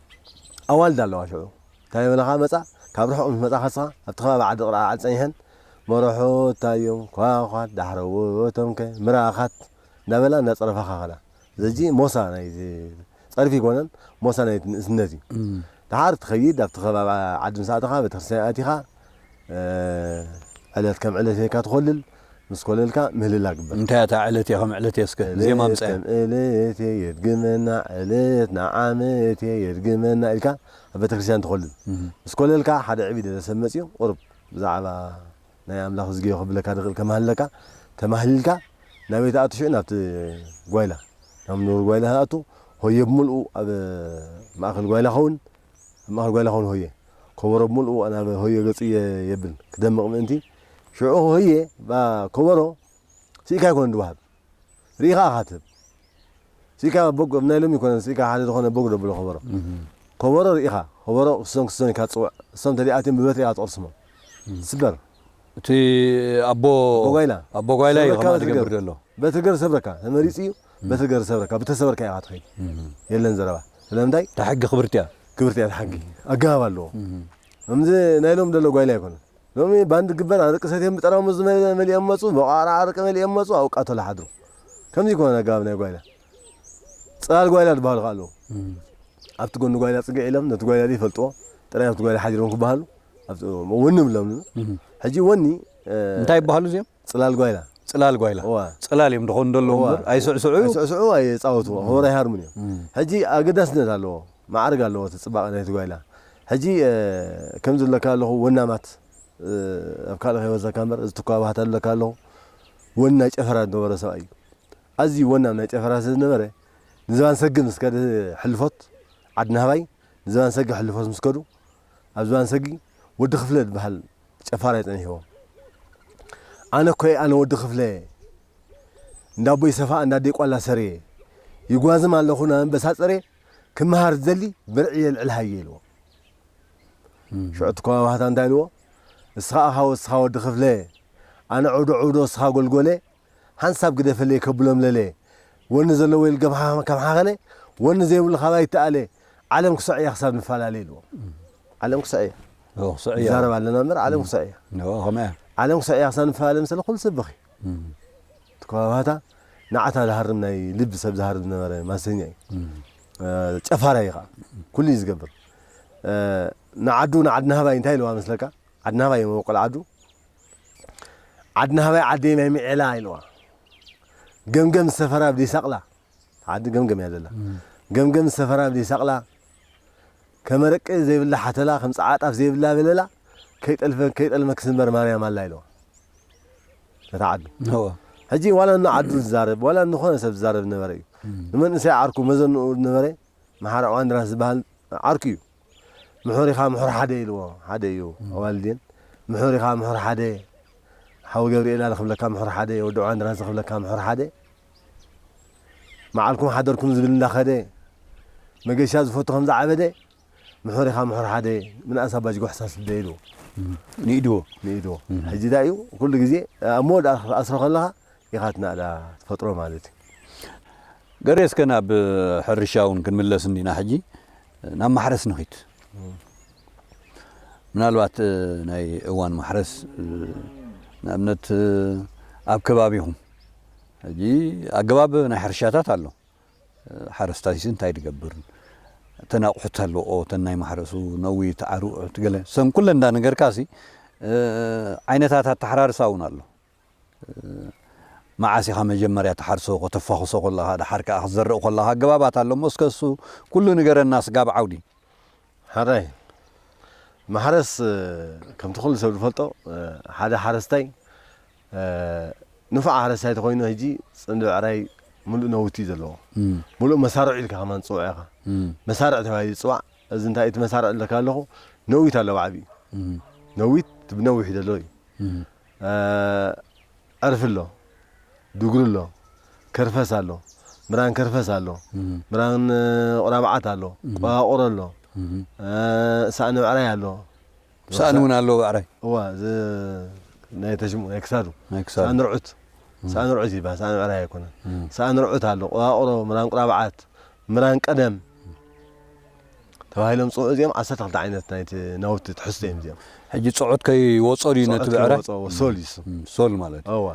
ኣዋልድ ኣለዋ ሽዑ እንታይ ይብላኻ መጻ ካብ ርሑቅ ምስ መጻኻ ንስኻ ኣብቲ ከባቢ ዓዲ ቅርዓዓድ ጸኒሐን መረሑት እንታይ እዮም ኳኳት ዳሕረዎቶም ከ ምራኻት እንዳበላ እንዳጸረፋኻ ከዳ ዘጂ ሞሳ ናይዚ ጸርፊ ኣይኮነን ሞሳ ናይ ንእስነት እዩ ድሓር ትኸይድ ኣብቲ ከባቢ ዓዲ ምስ ኣተኻ ቤተክርስትያን ኣቲኻ ዕለት ከም ዕለት ጌርካ ትኮልል ምስ ኮለልካ ምህልላ ግበር። እንታይ እያ እታ ዕለትየ ከም ዕለትየ እስከ ብዜማ ዕለት ኣምፀኣያ። ከም ዕለትየ የድግመና ዕለት ንዓመትየ የድግመና ኢልካ ኣብ ቤተክርስትያን ትኮልል ምስ ኮለልካ ሓደ ዕብይ ደለ ሰብ መፅዩ ቁሩብ ብዛዕባ ናይ ኣምላክ እዝግዮ ከብለካ ድክእል ከማህልለካ ተማህሊልካ ናበይ ትኣቱ ሽዑ ናብቲ ጓይላ ናብ ንቡር ጓይላ ትኣቱ ሆየ ብምልኡ ኣብ ማእከል ጓይላ ከዉን ኣብ ማእከል ጓይላ ኮን ሆየ ኮቦሮ ብምልኡ ናብ ሆየ ገጹ የብል ክደምቕ ምእንቲ። ሽዑ ሆየ እባ ኮቦሮ ስኢካ ኣይኮነን ድወሃብ ርኢኻ ኢኻ ትህብ ስኢካ በግ ኣብ ናይ ሎሚ ኣይኮነን ስኢካ ሓደ ዝኾነ በግ ዶ ብሎ ኮቦሮ ኮቦሮ ርኢኻ ኮቦሮ ክስቶን ክስቶን ኢልካ ትጽውዕ እሶም እንተደኣትዮም ብበትሪ ኢኻ ትቕርስሞም ትስበር እቲ ኣቦ ኣቦ ጓይላ ኣቦ ጓይላ እዩ ከምኣ ዝገብር ዘሎ በትሪ ገሩ ሰብረካ ተመሪጹ እዩ በትሪ ገሩ ዝሰብረካ ብተሰበርካ ኢኻ ትኸይድ የለን ዘረባ ስለምንታይ እታ ሕጊ ክብርቲ እያ ክብርቲ እያ ተሓጊ ኣገባብ ኣለዎ እምዚ ናይ ሎም ደሎ ጓይላ ኣይኮነን ሎሚ ባንድ ግበር ኣርቂ ሰትዮም ብጠራሙዝ መሊኦም መፁ በቋራ ኣርቂ መሊኦም መፁ ኣብ ቃተሎ ሓድሩ ከምዚ ይኮነ ኣገባብ ናይ ጓይላ ፅላል ጓይላ ዝበሃሉ ከዓ ኣለዉ ኣብቲ ጎኒ ጓይላ ፅግዕ ኢሎም ነቲ ጓይላ ዘይፈልጥዎ ጥራይ ኣብቲ ጓይላ ሓዲሮም ክበሃሉ ወኒ ብሎም ሕጂ ወኒ እንታይ ይበሃሉ እዚኦም ጽላል ጓይላ። ጽላል ጓይላ። እወ። ጽላል እዮም ድኾኑ ደለዉ እወ። እምበር፣ ኣይስዕስዑ ኣዩ? ኣይስዕስዑ ኣይጻወቱ ከበሮ ኣይሃርሙን እዮም። ሕጂ ኣገዳስነት ኣለዎ መዓርግ ኣለዎ እቲ ጽባቐ ናይቲ ጓይላ። ሕጂ ከምዚ ዝብለካ ኣለኹ ወናማት ኣብ ካልእ ከይወሰካ እምበር እዚ ትኩኣ ባህታ ዝብለካ ኣለኹ ወን ናይ ጨፈራ ዝነበሮ ሰብኣይ እዩ። ኣዝዩ ወናም ናይ ጨፈራ ስለ ዝነበረ ንዝባን ሰግር ምስ ከደ ሕልፎት ዓድናህባይ ንዝባን ሰግር ሕልፎት ምስ ከዱ ኣብ ዝባን ሰግር ወዲ ክፍለ ዝብሃል ጨፋር እየ ጸኒሕዎ ኣነ እኮ እየ ኣነ ወዲ ክፍለ እየ እንዳ ኣቦይ ሰፋ እንዳ ኣደይ ቋላ ሰር እየ ይጓዝም ኣለኹ ናብ ኣንበሳ ጸሬ ክመሃር ዝደሊ ብርዒ የልዕል ሃየ ኢልዎ ሽዑ እቲ ኮማ ባህታ እንታይ ኢልዎ እስኻ ኣኻ ወስኻ ወዲ ክፍለ ኣነ ዑዶ ዑዶ እስኻ ጎልጎለ ሓንሳብ ግደፈለይ ከብሎም ለለ ወኒ ዘለዎ ይልገብ ከም ሓኸነ ወኒ ዘይብሉ ካብ ኣይተኣለ ዓለም ክሰዕ እያ ክሳብ ንፈላለ ኢልዎም ዓለም ክሰዕ እያ ኦ ክሰዕ እያ ንዛረብ ኣለና እምበር ዓለም ክሰዕ እያ ኦ ከምኣ እያ ዓለም ክሰዕ እያ ክሳብ ንፈላለ ምሰለ ኩሉ ሰብ በኺ ትኮባባታ ንዓታ ዝሃርም ናይ ልቢ ሰብ ዝሃርም ዝነበረ ማሰኛ እዩ ጨፋራ እዩ ከዓ ኩሉ እዩ ዝገብር ንዓዱ ንዓድናሃባይ እንታይ ኢልዋ መስለካ ዓድናሃባይ እዮም መበቆል ዓዱ ዓዲ ናህባይ ዓደይ ናይ ምዔላ ኢልዋ ገምገም ዝሰፈራ ኣብ ደይሳቕላ ዓዲ ገምገም እያ ዘላ ገምገም ዝሰፈራ ኣብ ደይሳቕላ ከመረቂ ዘይብላ ሓተላ ከም ጸዓ ጣፍ ዘይብላ በለላ ከይጠልፈ ከይጠልመ ክስንበር ማርያም ኣላ ኢልዋ ነታ ዓዱ ሕጂ ዋላ ን ዓዱ ዝዛረብ ዋላ ንኾነ ሰብ ዝዛረብ ዝነበረ እዩ ንመንእሰይ ዓርኩ መዘንኡ ዝነበረ መሓሪ ዕዋንድራስ ዝበሃል ዓርኩ እዩ ምሑር ኢኻ ምሑር ሓደ ኢልዎ ሓደ እዩ ኣዋልድን ምሑር ኢኻ ምሑር ሓደ ሓው ገብርኤል ኣለ ክብለካ ምሑር ሓደ ወዲ ዕዋን ድራንሲ ክብለካ ምሑር ሓደ መዓልኩም ሓደርኩም ዝብል እንዳኸደ መገሻ ዝፈቱ ከም ዝዓበደ ምሑር ኢኻ ምሑር ሓደ ምንኣስ ኣባጅ ጎሕሳ ስደ ኢልዎ ንኢድዎ ንኢድዎ ሕጂ ዳዩ ኩሉ ግዜ ኣብ መወዳእ ኣስሮ ከለኻ ኢኻ ናእዳ ትፈጥሮ ማለት እዩ። ገሬ እስከ ናብ ሕርሻ እውን ክንምለስ እንዲና ሕጂ ናብ ማሕረስ ንኺድ ምናልባት ናይ እዋን ማሕረስ ንኣብነት ኣብ ከባቢኹም ሕጂ ኣገባብ ናይ ሕርሻታት ኣሎ ሓረስታይሲ እንታይ ድገብር እተን ኣቑሑት ኣለዎ እተን ናይ ማሕረሱ ነዊት ዓርዑት ገለ ሰን ኩለን እንዳነገርካሲ ዓይነታት ኣተሓራርሳ እውን ኣሎ መዓስ ኢኻ መጀመርያ ትሓርሶ ከተፋኹሶ ኮለኻ ደሓር ከኣ ክትዘርእ ኮለኻ ኣገባባት ኣሎ እሞ እስከ እሱ ኩሉ ንገረና ስጋብ ዓውዲ። ሓራይ ማሕረስ ከምቲ ኩሉ ሰብ ዝፈልጦ ሓደ ሓረስታይ ንፉዕ ሓረስታይ ተኾይኑ ሕጂ ጽምዲ ብዕራይ ምሉእ ነውቲ እዩ ዘለዎ ምሉእ መሳርዑ ኢልካ ከማን ትጽውዖ ኢኻ መሳርዕ ተባሂሉ ዝጽዋዕ እዚ እንታይ እቲ መሳርዕ ዝብለካ ኣለኹ ነዊት ኣሎ ብዓቢኡ ነዊት ብነዊሑ ዘሎ እዩ ዕርፊ ኣሎ ድጉሪ ኣሎ ከርፈስ ኣሎ ምራን ከርፈስ ኣሎ ምራን ቁራብዓት ኣሎ ቁራቁሮ ኣሎ ሳእኒ ብዕራይ ኣሎ ሳእኒ እውን ኣሎ ብዕራይ እዋ ናይ ተሽሙ ናይ ክሳዱ ሳእኒ ርዑት ሳእኒ ርዑት ይበሃል ሳእኒ ብዕራይ ኣይኮነን ሳእኒ ርዑት ኣሎ ቁራቁሮ ምራን ቁራብዓት ምራን ቀደም ተባሂሎም ዝጽውዑ እዚኦም ዓሰርተ ክልተ ዓይነት ናይቲ ናውቲ ትሕዝቶ እዮም እዚኦም። ሕጂ ጽዕት ከይወጾ ድዩ ነቲ ብዕራይ? ጽዕት ከይወጾ ሶል እዩ እሱ። ሶል ማለት እዩ። እወ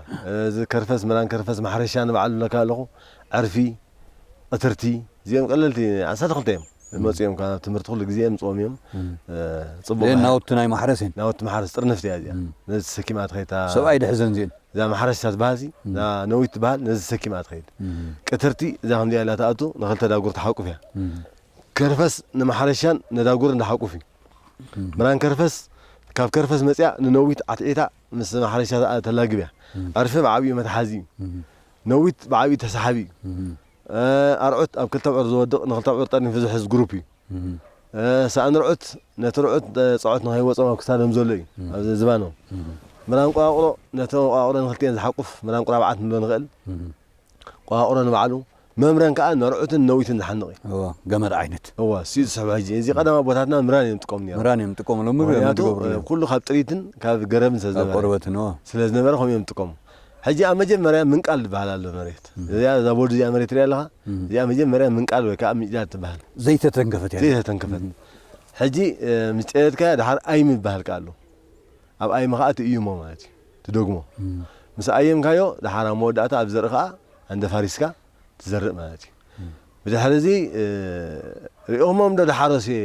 እዚ ከርፈስ መራን ከርፈስ ማሕረሻ ንባዕሉ እብለካ ኣለኹ፣ ዕርፊ፣ ቕትርቲ፣ እዚኦም ቀለልቲ ዓሰርተ ክልተ እዮም። ዝመጹ እዮም ካብ ትምህርቲ ኩሉ ግዜ የምጽዎም እዮም። ጽቡቕ እዚኤን ናውቲ ናይ ማሕረስ እየን። ናውቲ ማሕረስ ጥርንፍቲ እያ እዚኣ። ነዚ ተሰኪማ ተኸይታ ሰብኣይ ድሕዘን እዚኤን። እዛ ማሕረስ እታ ትበሃል ሲ እዛ ነዊት ትበሃል ነዚ ተሰኪማ እያ ትኸይድ ቅትርቲ እዛ ከምዚኣ ኢላ ትኣቱ ንክልተ ዳጉር ትሓቁፍ እያ ከርፈስ ንማሕረሻን ነዳጉርን ዝሓቁፍ እዩ ምራን ከርፈስ ካብ ከርፈስ መፅያ ንነዊት ዓትዒታ ምስ ማሕረሻ ተላግብ እያ ዕርፊ ብዓብዩ መትሓዚ እዩ ነዊት ብዓብዩ ተሰሓቢ እዩ ኣርዑት ኣብ ክልተ ኣብዑር ዝወድቕ ንክልተ ኣብዑር ጠርኒፉ ዝሕዝ ግሩፕ እዩ ሳእኒ ርዑት ነቲ ርዑት ጸዖት ንኸይወጾም ኣብ ክሳዶም ዘሎ እዩ፣ ኣብ ዝባኖም። ምራንቁራቑሮ ነቲ እንቋቑሮ ንኽልቲኤን ዝሓቁፍ ምራንቁራብዓት ንብሎ ንኽእል። ቁራቑሮ ንባዕሉ፣ መምረን ከኣ ንርዑትን ነዊትን ዝሓንቕ እዩ። እወ፣ ገመድ ዓይነት። እወ፣ እሱ'ዩ ዝስሕቦ ሕጂ። እዚ ቀደም ኣቦታትና ምራን እዮም ዝጥቀሙ ነይሮም። ምራን እዮም ዝጥቀሙ፣ ሎሚ ምኽንያቱ ኩሉ ካብ ጥሪትን ካብ ገረብን ስለ ዝነበረ። ካብ ቆርበትን፣ እወ። ስለ ዝነበረ ከምኡ እዮም ዝጥቀሙ። ሕጂ ኣብ መጀመርያ ምንቃል ዝበሃል ኣሎ መሬት እዚኣ እዛ ቦርድ እዚኣ መሬት ትሪኣ ኣለኻ እዚኣ መጀመርያ ምንቃል ወይ ከዓ ምጭዳድ ትበሃል ዘይተተንከፈት እያ ዘይተተንከፈት ሕጂ ምስ ጨደድካያ ድሓር ኣይም ዝበሃል ከዓ ኣሎ ኣብ ኣይም ከዓ ትእይሞ ማለት እዩ ትደግሞ ምስ ኣየምካዮ ድሓር ኣብ መወዳእታ ኣብ ዘርኢ ከዓ ኣንደፋሪስካ ትዘርእ ማለት እዩ ብድሕሪ እዚ ሪኦሞም ዶ ድሓረሱ እየ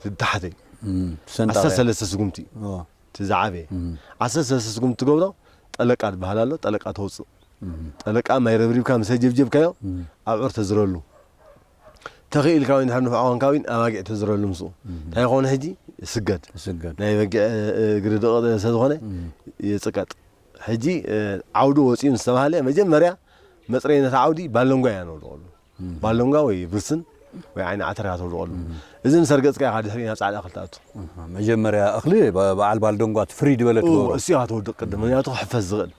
እቲ ታሕተይ ዓሰርተ ሰንጣቒ ሰለስተ ስጉምቲ ኦ እቲ ዝዓበየ ዓሰርተ ሰለስተ ስጉምቲ ትገብሮ ጠለቃ ዝበሃል ኣሎ ጠለቃ ተውፅእ ጠለቃ ማይ ረብሪብካ ምሰ ጀብጀብካዮ ኣብዑር ተዝረሉ ተኺኢልካ ወይ እንድሕር ንፉዕ ኮንካ ውን ኣባጊዕ ተዝረሉ ምስኡ እንታይ ይኸውን ሕጂ ይስገድ ይስገድ ናይ በጊዕ እ፣ እግሪ ደቂ ስለ ዝኾነ ይፅቀጥ ሕጂ እ፣ ዓውዲ ወፂኡ ምስ ተባህለ መጀመርያ መፅረይነት ዓውዲ ባለንጓ ኢና ነውድቐሉ ባሎንጋ ወይ ብርስን ወይ ዓይኒ ዓተር ኢኻ ተውድቐሉ። እዚ ምስ ኣርገጽካዮ ኢኻ ድሕሪኡ ናብ ጻዕዳ እኽሊ ትኣቱ። መጀመርያ እኽሊ በዓል ባልዶንጓ እቲ ፍርይ ዝበለ ትገብሮ። እሱ ኢኻ ተውድቕ ቅድም ምክንያቱ ክሕፈስ ዝኽእል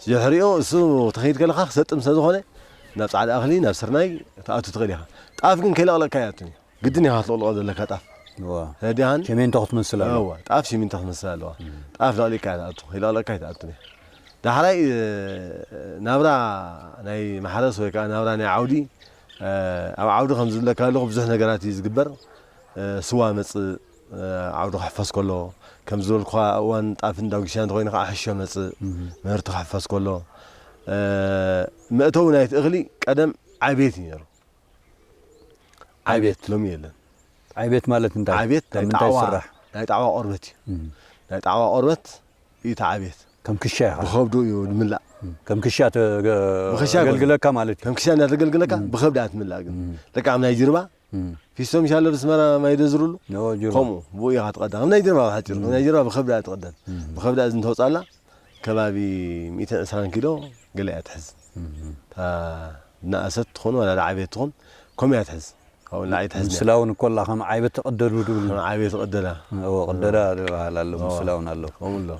ድሕሪኡ እሱ ተኸይድ ከለኻ ክሰጥም ስለ ዝኾነ ናብ ጻዕዳ እኽሊ ናብ ስርናይ ትኣቱ ትኽእል ኢኻ። ጣፍ ግን ከይለቕለቕካ ኣይኣቱን እዩ። ግድን ኢኻ ክትልቕልቖ ዘለካ ጣፍ እወ ረዲኣን ሸሜንቶ ክትመስል ኣለዋ እወ ጣፍ ሽሚንቶ ክትመስል ኣለዋ ጣፍ ለቕሊቕካ እያ ትኣቱ ከይለቕለቕካ ኣይትኣቱን እያ ዳሕራይ ናብራ ናይ ማሕረስ ወይ ከዓ ናብራ ናይ ዓውዲ ኣብ ዓውዲ ከም ዝብለካ ኣለኹ ብዙሕ ነገራት እዩ ዝግበር ስዋ መፅእ ዓውዲ ክሕፈስ ከሎ ከም ዝበልኩኻ እዋን ጣፍን ዳጉሻን እንተኮይኑ ከዓ ሕሾ መፅእ ምህርቲ ክሕፈስ ከሎ መእተዊ ናይቲ እኽሊ ቀደም ዓቤት እዩ ነይሩ ዓብየት ሎሚ የለን። ዓብየት ማለት እንታይ? ዓብየት ናይ ጣዕዋ ናይ ጣዕዋ ቆርበት እዩ። ናይ ጣዕዋ ቆርበት እዩ እቲ ዓብየት። ከም ክሻ ኢኻ ብኸብዱ እዩ ዝምላእ። ከም ክሻ ተገልግለካ ማለት እዩ። ከም ክሻ እናተገልግለካ ብኸብዲ እያ ትምላእ። ግን ልክዕ ከም ናይ ጅርባ ፊስቶ ምሽ ኣሎ ብስመራ ማይ ደዝርሉ ከምኡ ብኡ ኢኻ ትቐዳ። ከም ናይ ጅርባ ብሓፂሩ ከም ናይ ጅርባ ብኸብዳ እያ ትቐደን። ብኸብዳ እዚ እንተውፃላ ከባቢ ሚእትን ዕስራን ኪሎ ገለ እያ ትሕዝ እታ ዝነኣሰት ትኹን ዋላ ዝዓበየት ትኹን ከምኡ እያ ትሕዝ ካብኡ ንላዕሊ ኣይትሕዝን እያ ምስላውን እኮ ኣላ ከም ዓይበት ትቕደዱ ድብሉ ከም ዓብየት ቅደዳ እዎ ቅደዳ ዝበሃል ኣሎ እዎ፣ ምስላውን ኣሎ ከምኡ ኣሎ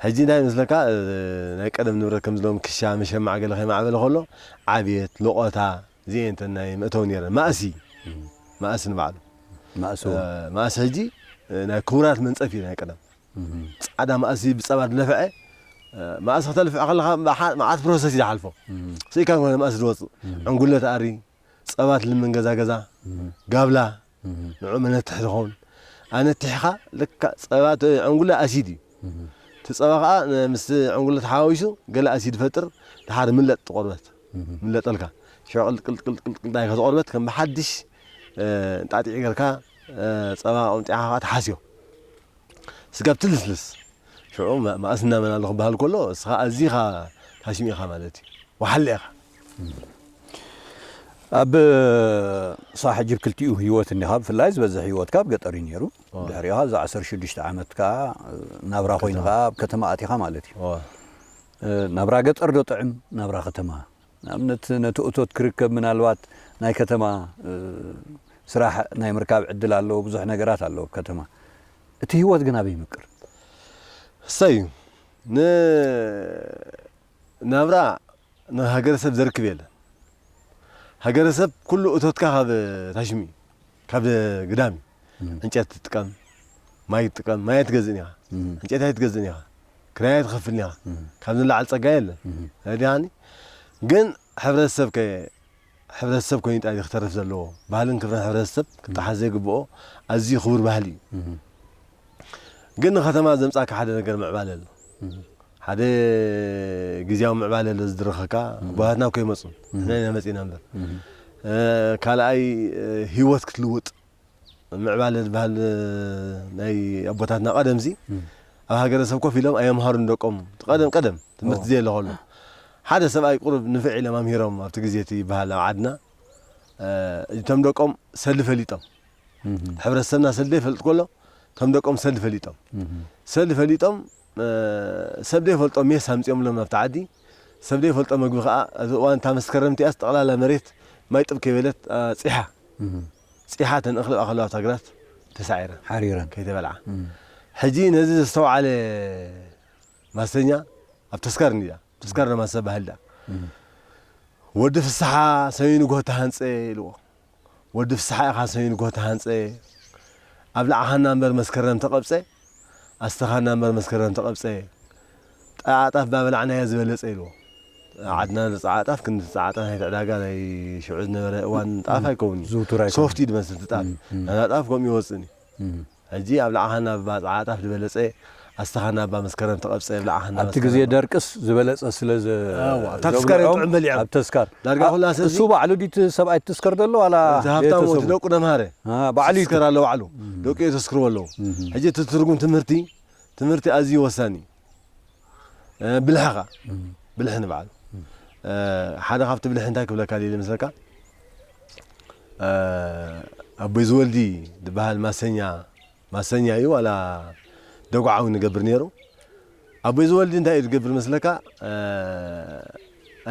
ሕጂ እንታይ ይመስለካ እ፣ ናይ ቀደም ንብረት ከምዚ ሎም ክሻ መሸማዕ ገለ ከይማዕበለ ከሎ ዓብየት ሎቖታ እዚኤን እተን ናይ መእተዊ ነይረን ማእሲ ማእሲ ንባዕሉ ማእሲ እውን መእሲ ሕጂ እ፣ ናይ ክቡራት መንጸፍ እዩ ናይ ቀደም ጻዕዳ ማእሲ ብጸባ ድለፍዐ ማእሲ ከተልፍዕ ከለኻ መዓት ፕሮሰስ እዩ ዝሓልፎ ስኢካ ኮነ ማእሲ ዝወጽእ ዕንጉለ ትኣሪ ጸባ ትልምን ገዛ ገዛ ጋብላ ንዑ መነትሕ ዝኸውን ኣነቲሕኻ ልካ ጸባ ዕንጉለ ኣሲድ እዩ እቲ ጸባ ከዓ ምስ ዕንጉለ ተሓዋዊሱ ገለ ኣሲድ ፈጥር ድሓር ምለጥ ትቆርበት ምለጠልካ ሸቅል ቅልቅልቅልቅል ዳይ ከተቆርበት ከም ብሓድሽ ጣጢዕ ገርካ ጸባ ቆምጢዕኻ ከዓ ትሓስዮ ስጋብ ትልስልስ ሽዑ መኣስ እና መን ኣሎ ክበሃል ከሎ እስኻ ኣዚኻ ሃሽሚ ኢኻ ማለት እዩ ወሓለ ኢኻ። ኣብ ሳሕ ጅብ ክልቲኡ ህይወት እኒኻ ብፍላይ ዝበዝሕ ህይወትካ ኣብ ገጠር እዩ ነይሩ ድሕሪኻ እዚ ዓሰርተ ሽዱሽተ ዓመት ከዓ ናብራ ኮይኑ ከዓ ኣብ ከተማ ኣቲኻ ማለት እዩ ናብራ ገጠር ዶ ጥዕም ናብራ ከተማ ንኣብነት ነቲ እቶት ክርከብ ምናልባት ናይ ከተማ ስራሕ ናይ ምርካብ ዕድል ኣሎ ብዙሕ ነገራት ኣሎ ኣብ ከተማ እቲ ሂወት ግን ኣበይ ይምቅር። እሰይ ን ናብራ ን ሃገረሰብ ዘርክብ የለን ሃገረሰብ ኩሉ እቶትካ ካብ ታሽሙ እዩ። ካብ ግዳም እዩ ዕንጨቲ ትጥቀም ማይ ትጥቀም ማይ ኣይትገዝእን ኢኻ ዕንጨቲ ኣይትገዝእን ኢኻ ክራይ ኣይትኸፍልን ኢኻ ካብ ንላዕሊ ጸጋ የለን ረዲኻኒ ግን ሕብረተሰብ ከ ሕብረተሰብ ኮይኑ ጣይ ክተርፍ ዘለዎ ባህልን ክብርን ሕብረተሰብ ክጠሓስ ዘይግብኦ ኣዝዩ ክቡር ባህሊ እዩ ግን ንከተማ ዘምጻካ ሓደ ነገር ምዕባለ ኣሎ ሓደ ግዝያዊ ምዕባለ ኣሎ ዝድርኸካ ጓላትና እኮ ይመጹን ንሕና ኢና መጺና እምበር ካልኣይ ህይወት ክትልውጥ ምዕባለ ዝበሃል ናይ ኣቦታትና ቀደምዚ ኣብ ሃገረሰብ ኮፍ ኢሎም ኣየምሃሩ ንደቆም ቀደም ቀደም ትምህርቲ ዘየለ ከሎ ሓደ ሰብኣይ ቁሩብ ንፍዕ ኢሎም ኣምሂሮም ኣብቲ ግዜ እቲ ይበሃል ኣብ ዓድና እቶም ደቆም ሰሊ ፈሊጦም ሕብረተሰብና ሰልዲ ይፈልጥ ከሎ ከም ደቆም ሰልዲ ፈሊጦም ሰልዲ ፈሊጦም ሰብ ዘይፈልጦ ሜስ ኣምፂኦምሎም ናብቲ ዓዲ ሰብ ዘይፈልጦ መግቢ ከዓ እዚ እዋን እታ መስከረም እቲኣስ ጠቕላላ መሬት ማይ ጥብ ከይበለት ፂሓ ፂሓ ተን እኽሊ ኣኸለዋ ኣብታ ግራት ተሳዒረን ሓሪረን ከይተበልዓ ሕጂ ነዚ ዘስተውዓለ ማሰኛ ኣብ ተስካር እንዲያ ተስካር ማሰ ባህል ዳ ወዲ ፍስሓ ሰሚኑ ጎታ ሃንፀ ኢልዎ ወዲ ፍስሓ ኢኻ ሰዩን እኮ ተሃንጸ ኣብላዕኻና እምበር መስከረም ተቐብጸ ኣስተኻና እምበር መስከረም ተቐብጸ ጣዓ ጣፍ ባበላዕናዮ ዝበለጸ ኢልዎ ዓድና ንጣዓ ጣፍ ክንዲ ጣዓ ጣፍ ናይቲ ዕዳጋ ናይ ሽዑ ዝነበረ እዋን ጣፍ ኣይከውን ዝውቱር ኣይኮነን። ሶፍት እዩ ዝመስል እቲ ጣፍ ናይና ጣፍ ከምኡ ይወጽእን እዩ ሕጂ ኣብ ለዓሃና እባ ጸዓጣፍ ዝበለጸ ኣስታኻና እባ መስከረም ተቐብጸ ብለዓሃና ኣብቲ መስከረም ግዜ እባ። ደርቅስ ዝበለጸ ስለ ዘ እዋ፣ ኣብታ ተስካር እዮም ዘብልዖም ጥዑም በሊዖም። ኣብ ተስካር ዳርጋ ኩላ ሰብ እዚ- እሱ ባዕሉ ድዩ እቲ ሰብኣይ ትስከር ዘሎ ዋላ እቲ ሃብታም እቲ ቤተሰቡ? ደቁ ነምሃረ አ፣ ባዕሉ እዩ እቲ- ዝስከር ኣሎ ባዕሉ ደቁ የሰስክርዎ ኣለዉ። ሕጂ እቲ ትርጉም ትምህርቲ ትምህርቲ ኣዝዩ ወሳኒ እዩ። ብልሒ ከ ብልሒ ንባዕሉ ሓደ ካብቲ ብልሒ እንታይ ክብለካ ድየ ዝመስለካ ኣቦይ ዝወልዲ ዝበሃል ማሰኛ ማሰኛ እዩ ዋላ ደጉዓዊ ንገብር ነይሩ ኣቦይ ዝወልዲ እንታይ እዩ ዝገብር መስለካ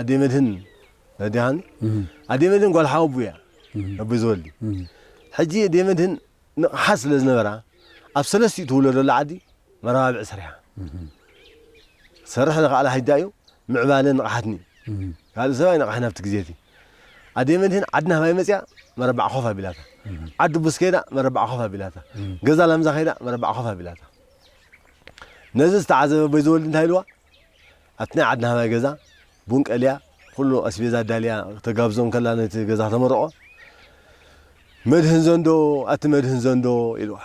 ኣዴ መድህን ረዲሃኒ ኣዴ መድህን ጓል ሓወቡ እያ ኣቦይ ዝወልዲ ሕጂ ኣዴ መድህን ንቕሓት ስለ ዝነበራ ኣብ ሰለስቲኡ ትውለደሉ ዓዲ መረባብዒ ሰሪሓ ክትሰርሕ ዘኸኣላ ሕጂ ኣዩ ምዕባለ ንቕሓትኒ ካልእ ሰብ ኣይነቕሐን ኣብቲ ግዜ እቲ ኣደይ መድህን ዓዲ ናህባይ መጺኣ መረባዕ ኮፍ ኣቢላታ ዓዲ ቡስ ከይዳ መረባዕ ኮፍ ኣቢላታ ገዛ ላምዛ ከይዳ መረባዕ ኮፍ ኣቢላታ ነዚ ዝተዓዘበ ኣቦይ ዘወልዲ እንታይ ኢልዋ ኣብቲ ናይ ዓድና ሃባይ ገዛ ቡን ቀልያ ኹሉ ኣስቤዛ ኣዳልያ ተጋብዞ እንከላ ነቲ ገዛ ተመርቖ መድህን ዘንዶ ኣቲ መድህን ዘንዶ ኢልዋ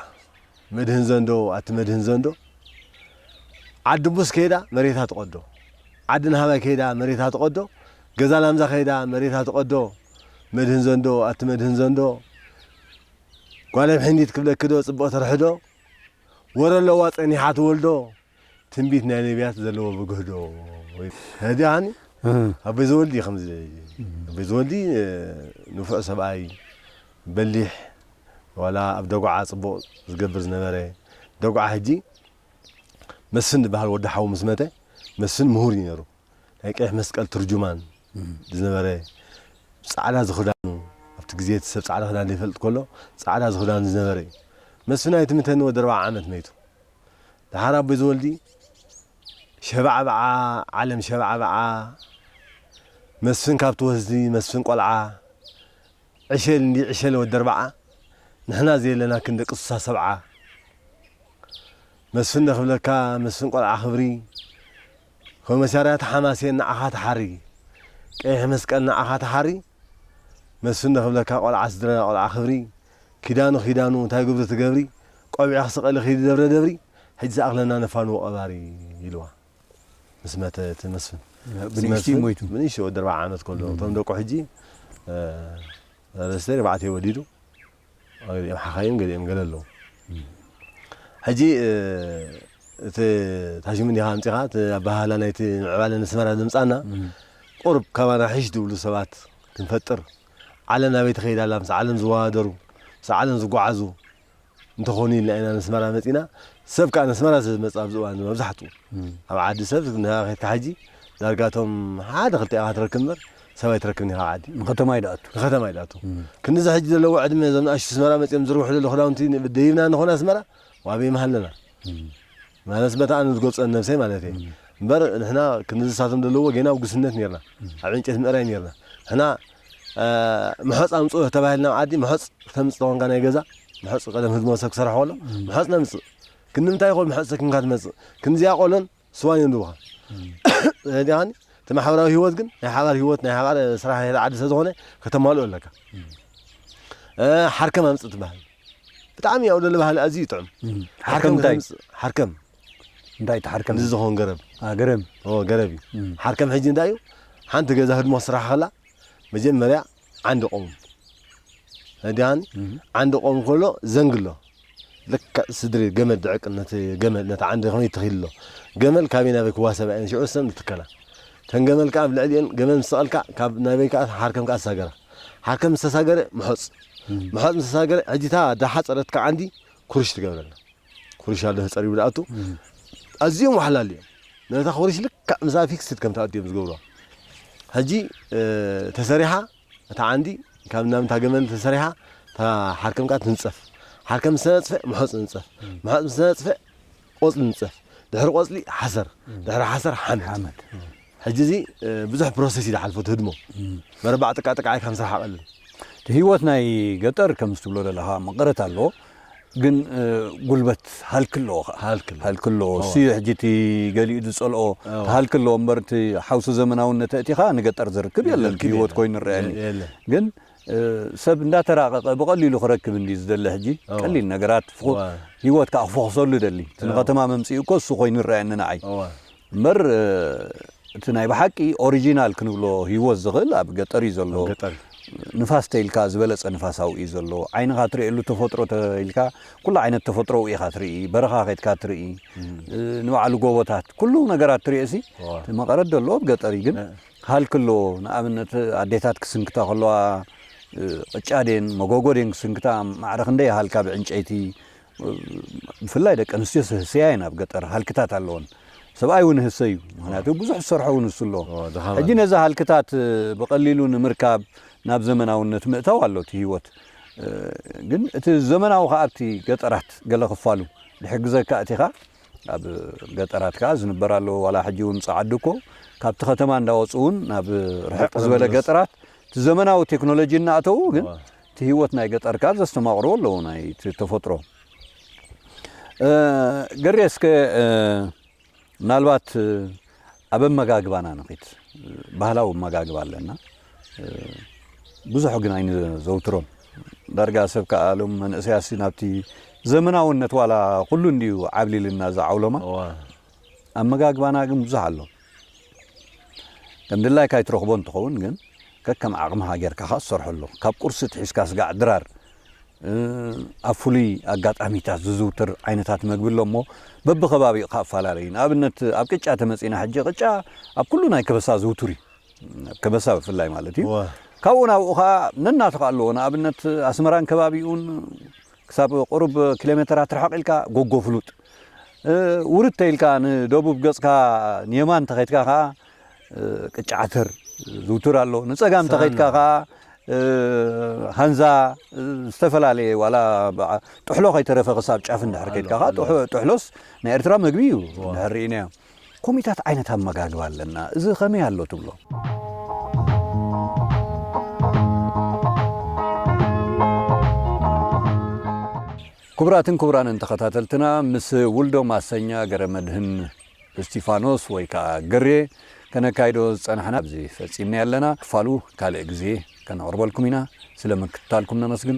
መድህን ዘንዶ ኣቲ መድህን ዘንዶ ዓዲ ቡስ ከይዳ መሬታ ትቐዶ ዓዲ ናሃባይ ከይዳ መሬታ ትቐዶ ገዛ ላምዛ ከይዳ መሬታ ትቐዶ መድህን ዘንዶ ኣቲ መድህን ዘንዶ ጓለ ምሕንዲት ክብለኪዶ ጽቡቕ ትርሕዶ ወረ ኣለዋ ጸኒሓ ትወልዶ ትንቢት ናይ ነብያት ዘለዎ ብግህዶ ሀዲ ሃኒ ኣቦይ ዘወልዲ ከምዚ ኣቦይ ዘወልዲ ንፉዕ ሰብኣይ በሊሕ ዋላ ኣብ ደጉዓ ጽቡቕ ዝገብር ዝነበረ ደጉዓ ሕጂ መስፍን ዝበሃል ወዲ ሓዉ ምስ መተ መስፍን ምሁር እዩ ነይሩ ናይ ቀይሕ መስቀል ትርጁማን ዝነበረ ጻዕዳ ዝኽዳኑ ኣብቲ ግዜ እቲ ሰብ ጻዕዳ ክዳን ዘይፈልጥ ከሎ ጻዕዳ ዝኽዳኑ ዝነበረ እዩ መስፍን ኣይትምተኒ ወዲ ኣርባዓ ዓመት መይቱ ደሓር ኣቦይ ዘወልዲ ሸባዕባዓ ዓለም ሸባዕባዓ መስፍን ካብ ትወስዲ መስፍን ቆልዓ ዕሸል እንዲ ዕሸለ ወዲ ኣርባዓ ንሕና ዘየለና ክን ደቂ ስሳ ሰብዓ መስፍን ደ ክብለካ መስፍን ቆልዓ ክብሪ ኮመሳርያት ሓማሴን ንዓኻ ተሓሪ ቀይሕ መስቀል ንዓኻ ተሓሪ መስፍን ዶ ክብለካ ቆልዓ ስድራና ቆልዓ ክብሪ ኪዳኑ ኪዳኑ እንታይ ግብሪ ትገብሪ ቆቢዕኺ ስቀሊ ኪዲ ደብረ ደብሪ ሕጂ ዝኣኽለና ነፋንዎ ቀባሪ ኢልዋ ምስ መተ እቲ መስፍን ምስ ብንእሽትኡ መስፍን ሞይቱ። ብንእሽተይ ወዲ ኣርብዓ ዓመት ከሎ እቶም ደቁ ሕጂ ሰለስተ ኣርባዕተ ወሊዱ ገሊኦም ሓኻይም ገሊኦም ገለ ኣለዉ ሕጂ እቲ ታሽሙ እንዲኻ ኣምጺኻ እቲ ኣበሃህላ ናይቲ ምዕባለ ንስመራ ዘምጻና ቁርብ ካባና ሒሽ ዝብሉ ሰባት ክንፈጥር ዓለም ናበይ ትኸይድ ኣላ ምስ ዓለም ዝወዳደሩ ምስ ዓለም ዝጓዓዙ እንተኾኑ ኢልና ኢና ንስመራ መጺና ሰብ ከዓ ንስመራ ስለዝመጽእ ኣብዚ እዋን መብዛሕትኡ ኣብ ዓዲ ሰብ ንሃ ከድካ ሕጂ ዳርጋቶም ሓደ ክልተ ኢኻ ትረክብ እምበር ሰብ ኣይትረክብን ኢኻ ዓዲ ንከተማዩ ድኣቱ ንከተማዩ ድኣቱ ክንድዚ ሕጂ ዘለዎ ዕድመ እዞም ንኣሽቱ ኣስመራ መጺኦም ዝዝርግሑ ዘለዉ ክዳውንቲ ደይብና ንኾን ኣስመራ ዋበይ ምሃለና ማለት በታ ኣነ ዝገልጾ ነብሰይ ማለት እየ እምበር ንሕና ክንድዚ ሳቶም ዘለዎ ጌና ኣብ ጉስነት ኔርና ኣብ ዕንጨት ምእራይ ኔርና ንሕና ምሖፅ ኣምፅኡ ተባሂልና ኣብ ዓዲ ምሖፅ ክተምፅእ ተኾንካ ናይ ገዛ ምሖፅ ቀደም ህዝቢ መሰብ ክሰርሖ ከሎ ምሖፅ ነምፅእ ክንምንታይ ይኾን ምሖፅ ሰኪምካ ትመፅእ ክንዚኣ ቆሎን ስዋ የንብብኻ ዲኻኒ እቲ ማሕበራዊ ህይወት ግን ናይ ሓባር ህይወት ናይ ሓባር ስራሕ ናይ ዓዲ ስለ ዝኾነ ከተማልኦ ኣለካ ሓርከም ኣምፅእ ትበሃል ብጣዕሚ ያው ደለ ባህሊ ኣዝዩ ይጥዕም ሓርከም እንታይ ሓርከም እንታይ ተሓርከም እዚ ዝኾን ገረብ ገረብ ገረብ እዩ ሓርከም ሕጂ እንታይ እዩ ሓንቲ ገዛ ህድሞ ስራሕ ከላ መጀመርያ ዓንዲ ቆሙ ህዳን ዓንዲ ቆሙ ከሎ ዘንግሎ ልክዕ ስድሪ ገመል ድዕቅ ነቲ ገመል ነቲ ዓንዲ ኮይኑ ይትኺልሎ ገመል ካበይ ናበይ ክዋሰባ እየን ሽዑ ሰን ዝትከላ ተን ገመል ከዓ ኣብ ልዕሊኤን ገመል ምስ ሰቐልካ ካብ ናበይ ከዓ ሓርከም ከዓ ዝሳገራ ሓርከም ዝተሳገረ ምሖፅ ምሖፅ ምስ ተሳገረ ሕጂ እታ ዳሓፀረትካ ዓንዲ ኩርሽ ትገብረላ ኩርሽ ኣሎ ተጸሪቡ ዝኣቱ ኣዝዮም ወሓላል እዮም ነታ ኩርሽ ልክዕ ምስኣ ፊክስድ ከም ትኣቱ እዮም ዝገብሩዋ ሕጂ ተሰሪሓ እታ ዓንዲ ካብ ናምታ ገመል ተሰሪሓ እታ ሓርከም ከዓ ትንጸፍ ሓርከም ምስ ተነጽፈ ምሖፅ ንንጸፍ ምሖፅ ምስ ተነጽፈ ቆጽሊ ንንጸፍ ድሕሪ ቆጽሊ ሓሰር ድሕሪ ሓሰር ሓመድ ሕጂ እዚ ብዙሕ ፕሮሰስ እዩ ዝሓልፎ እቲ ህድሞ መረባዕ ጥቃ ጥቃ ኢልካ ምስራሕ ኣቐልል እቲ ህይወት ናይ ገጠር ከምዚ ትብሎ ዘለኻ መቐረት ኣለዎ ግን ጉልበት ሃልኪ ኣለዎ ከኣ ሃልኪ ኣለዎ። ሃልኪ ኣለዎ እሱ እዩ ሕጂ እቲ ገሊኡ ዝጸልኦ እቲ ሃልኪ ኣለዎ እምበር እቲ ሓውሲ ዘመናውነት ኣእቲኻ ንገጠር ዝርክብ የለን ዝርክብ እቲ ህይወት የለን። ኮይኑ ይረኣየኒ የለን። ግን እ፣ ሰብ እንዳተራቐቐ ብቐሊሉ ክረክብ እንዲ ዝደሊ ሕጂ እዋ። ቀሊል ነገራት ፍኹ- እዋ። ህይወት ከኣ ክፎኽሰሉ ይደሊ እቲ እዋ። ንከተማ መምጽኡ እኮ እሱ ኮይኑ ይረኣየኒ ንዓይ እዋ። እምበር እቲ ናይ ብሓቂ ኦሪጂናል ክንብሎ ሂወት ዝኽእል ኣብ ገጠር እዩ ዘሎ። ንፋስ ተይልካ ዝበለጸ ንፋስ ኣብኡ እዩ ዘሎ። ዓይንኻ ትርእየሉ ተፈጥሮ ተይልካ ኩሉ ዓይነት ተፈጥሮ ኣብኡ ኢኻ ትርኢ። በረኻ ከድካ ትርኢ። ንባዕሉ ጎቦታት ኩሉ ነገራት ትርእሲ እቲ መቐረት ዘሎ ኣብ ገጠር እዩ ግን ሃልኪ ኣሎ ንኣብነት ኣዴታት ክስንክታ ከለዋ ቅጫ ድየን መጎጎ ድየን ክስንክታ ማዕረ ክንደይ ይሃልካ ብዕንጨይቲ ብፍላይ ደቂ ኣንስትዮ ዝህሰያ እየን ኣብ ገጠር ሃልክታት ኣለወን ሰብኣይ እውን ህሰ እዩ ምክንያቱ ብዙሕ ዝሰርሖ እውን ንሱ ኣሎ ሕጂ ነዚ ሃልክታት ብቐሊሉ ንምርካብ ናብ ዘመናውነት ምእታው ኣሎ እቲ ህይወት ግን እቲ ዘመናዊ ከዓ ኣብቲ ገጠራት ገለ ክፋሉ ዝሕግዘካ እቲ ኻ ኣብ ገጠራት ከዓ ዝንበር ኣለዎ ዋላ ሕጂ እውን ፀዓዱ እኮ ካብቲ ከተማ እንዳወፁ እውን ናብ ርሕቅ ዝበለ ገጠራት እቲ ዘመናዊ ቴክኖሎጂ እናእተዉ ግን እቲ ህይወት ናይ ገጠር ከኣ ዘስተማቕርዎ ኣለዎ ናይቲ ተፈጥሮ። ገሬ እስከ ምናልባት ኣብ ኣመጋግባና ንኺድ። ባህላዊ ኣመጋግባ ኣለና። ብዙሕ ግን ኣይንዘውትሮን። ዳርጋ ሰብ ከኣ ሎም መንእሰያትሲ ናብቲ ዘመናውነት ዋላ ኩሉ እንድዩ ዓብሊልና እዚ ዓውሎማ፣ ኣመጋግባና ግን ብዙሕ ኣሎ። ከም ድላይካ ኣይትረኽቦን እንትኸውን ግን ከከም ዓቕምኻ ጌርካ ከኣ ትሰርሐሉ። ካብ ቁርሲ ትሒዝካ ስጋዕ ድራር ኣብ ፍሉይ ኣጋጣሚታት ዝዝውትር ዓይነታት መግቢ ኣሎ እሞ በብከባቢኡ ከኣ እፈላለይ እዩ። ንኣብነት ኣብ ቅጫ ተመጺና ሕጂ ቅጫ ኣብ ኩሉ ናይ ከበሳ ዝውቱር እዩ። ኣብ ከበሳ ብፍላይ ማለት እዩ። እወ። ካብኡ ናብኡ ከኣ ነናቱ ከኣ ኣለዎ ንኣብነት ኣስመራን ከባቢኡን ክሳብ ቁሩብ ኪሎሜተራት ርሕቕ ኢልካ ጎጎ ፍሉጥ፣ ውርድ ተይልካ ንደቡብ ገጽካ ንየማን እንተኸይድካ ከኣ ቅጫ ዓተር ዝውቱር ኣሎ፣ ንጸጋም እንተኸይድካ ከኣ ሃንዛ ዝተፈላለየ ዋላ ጥሕሎ ከይተረፈ ክሳብ ጫፍ እንድሕር ከይድካ ከኣ ጥሕሎስ ናይ ኤርትራ መግቢ እዩ እንድሕር ርኢናዮ። ኮሚታት ዓይነት ኣመጋግባ ኣለና እዚ ከመይ ኣሎ ትብሎ? ክቡራትን ክቡራንን ተኸታተልትና ምስ ውልዶ ማሰኛ ገረመድህን እስቲፋኖስ ወይ ከኣ ገሬ ከነካይዶ ዝጸናሕና ኣብዚ ፈጺምናዮ ኣለና። ክፋሉ ካልእ ግዜ ከነቕርበልኩም ኢና። ስለ ምክትታልኩም ነመስግን።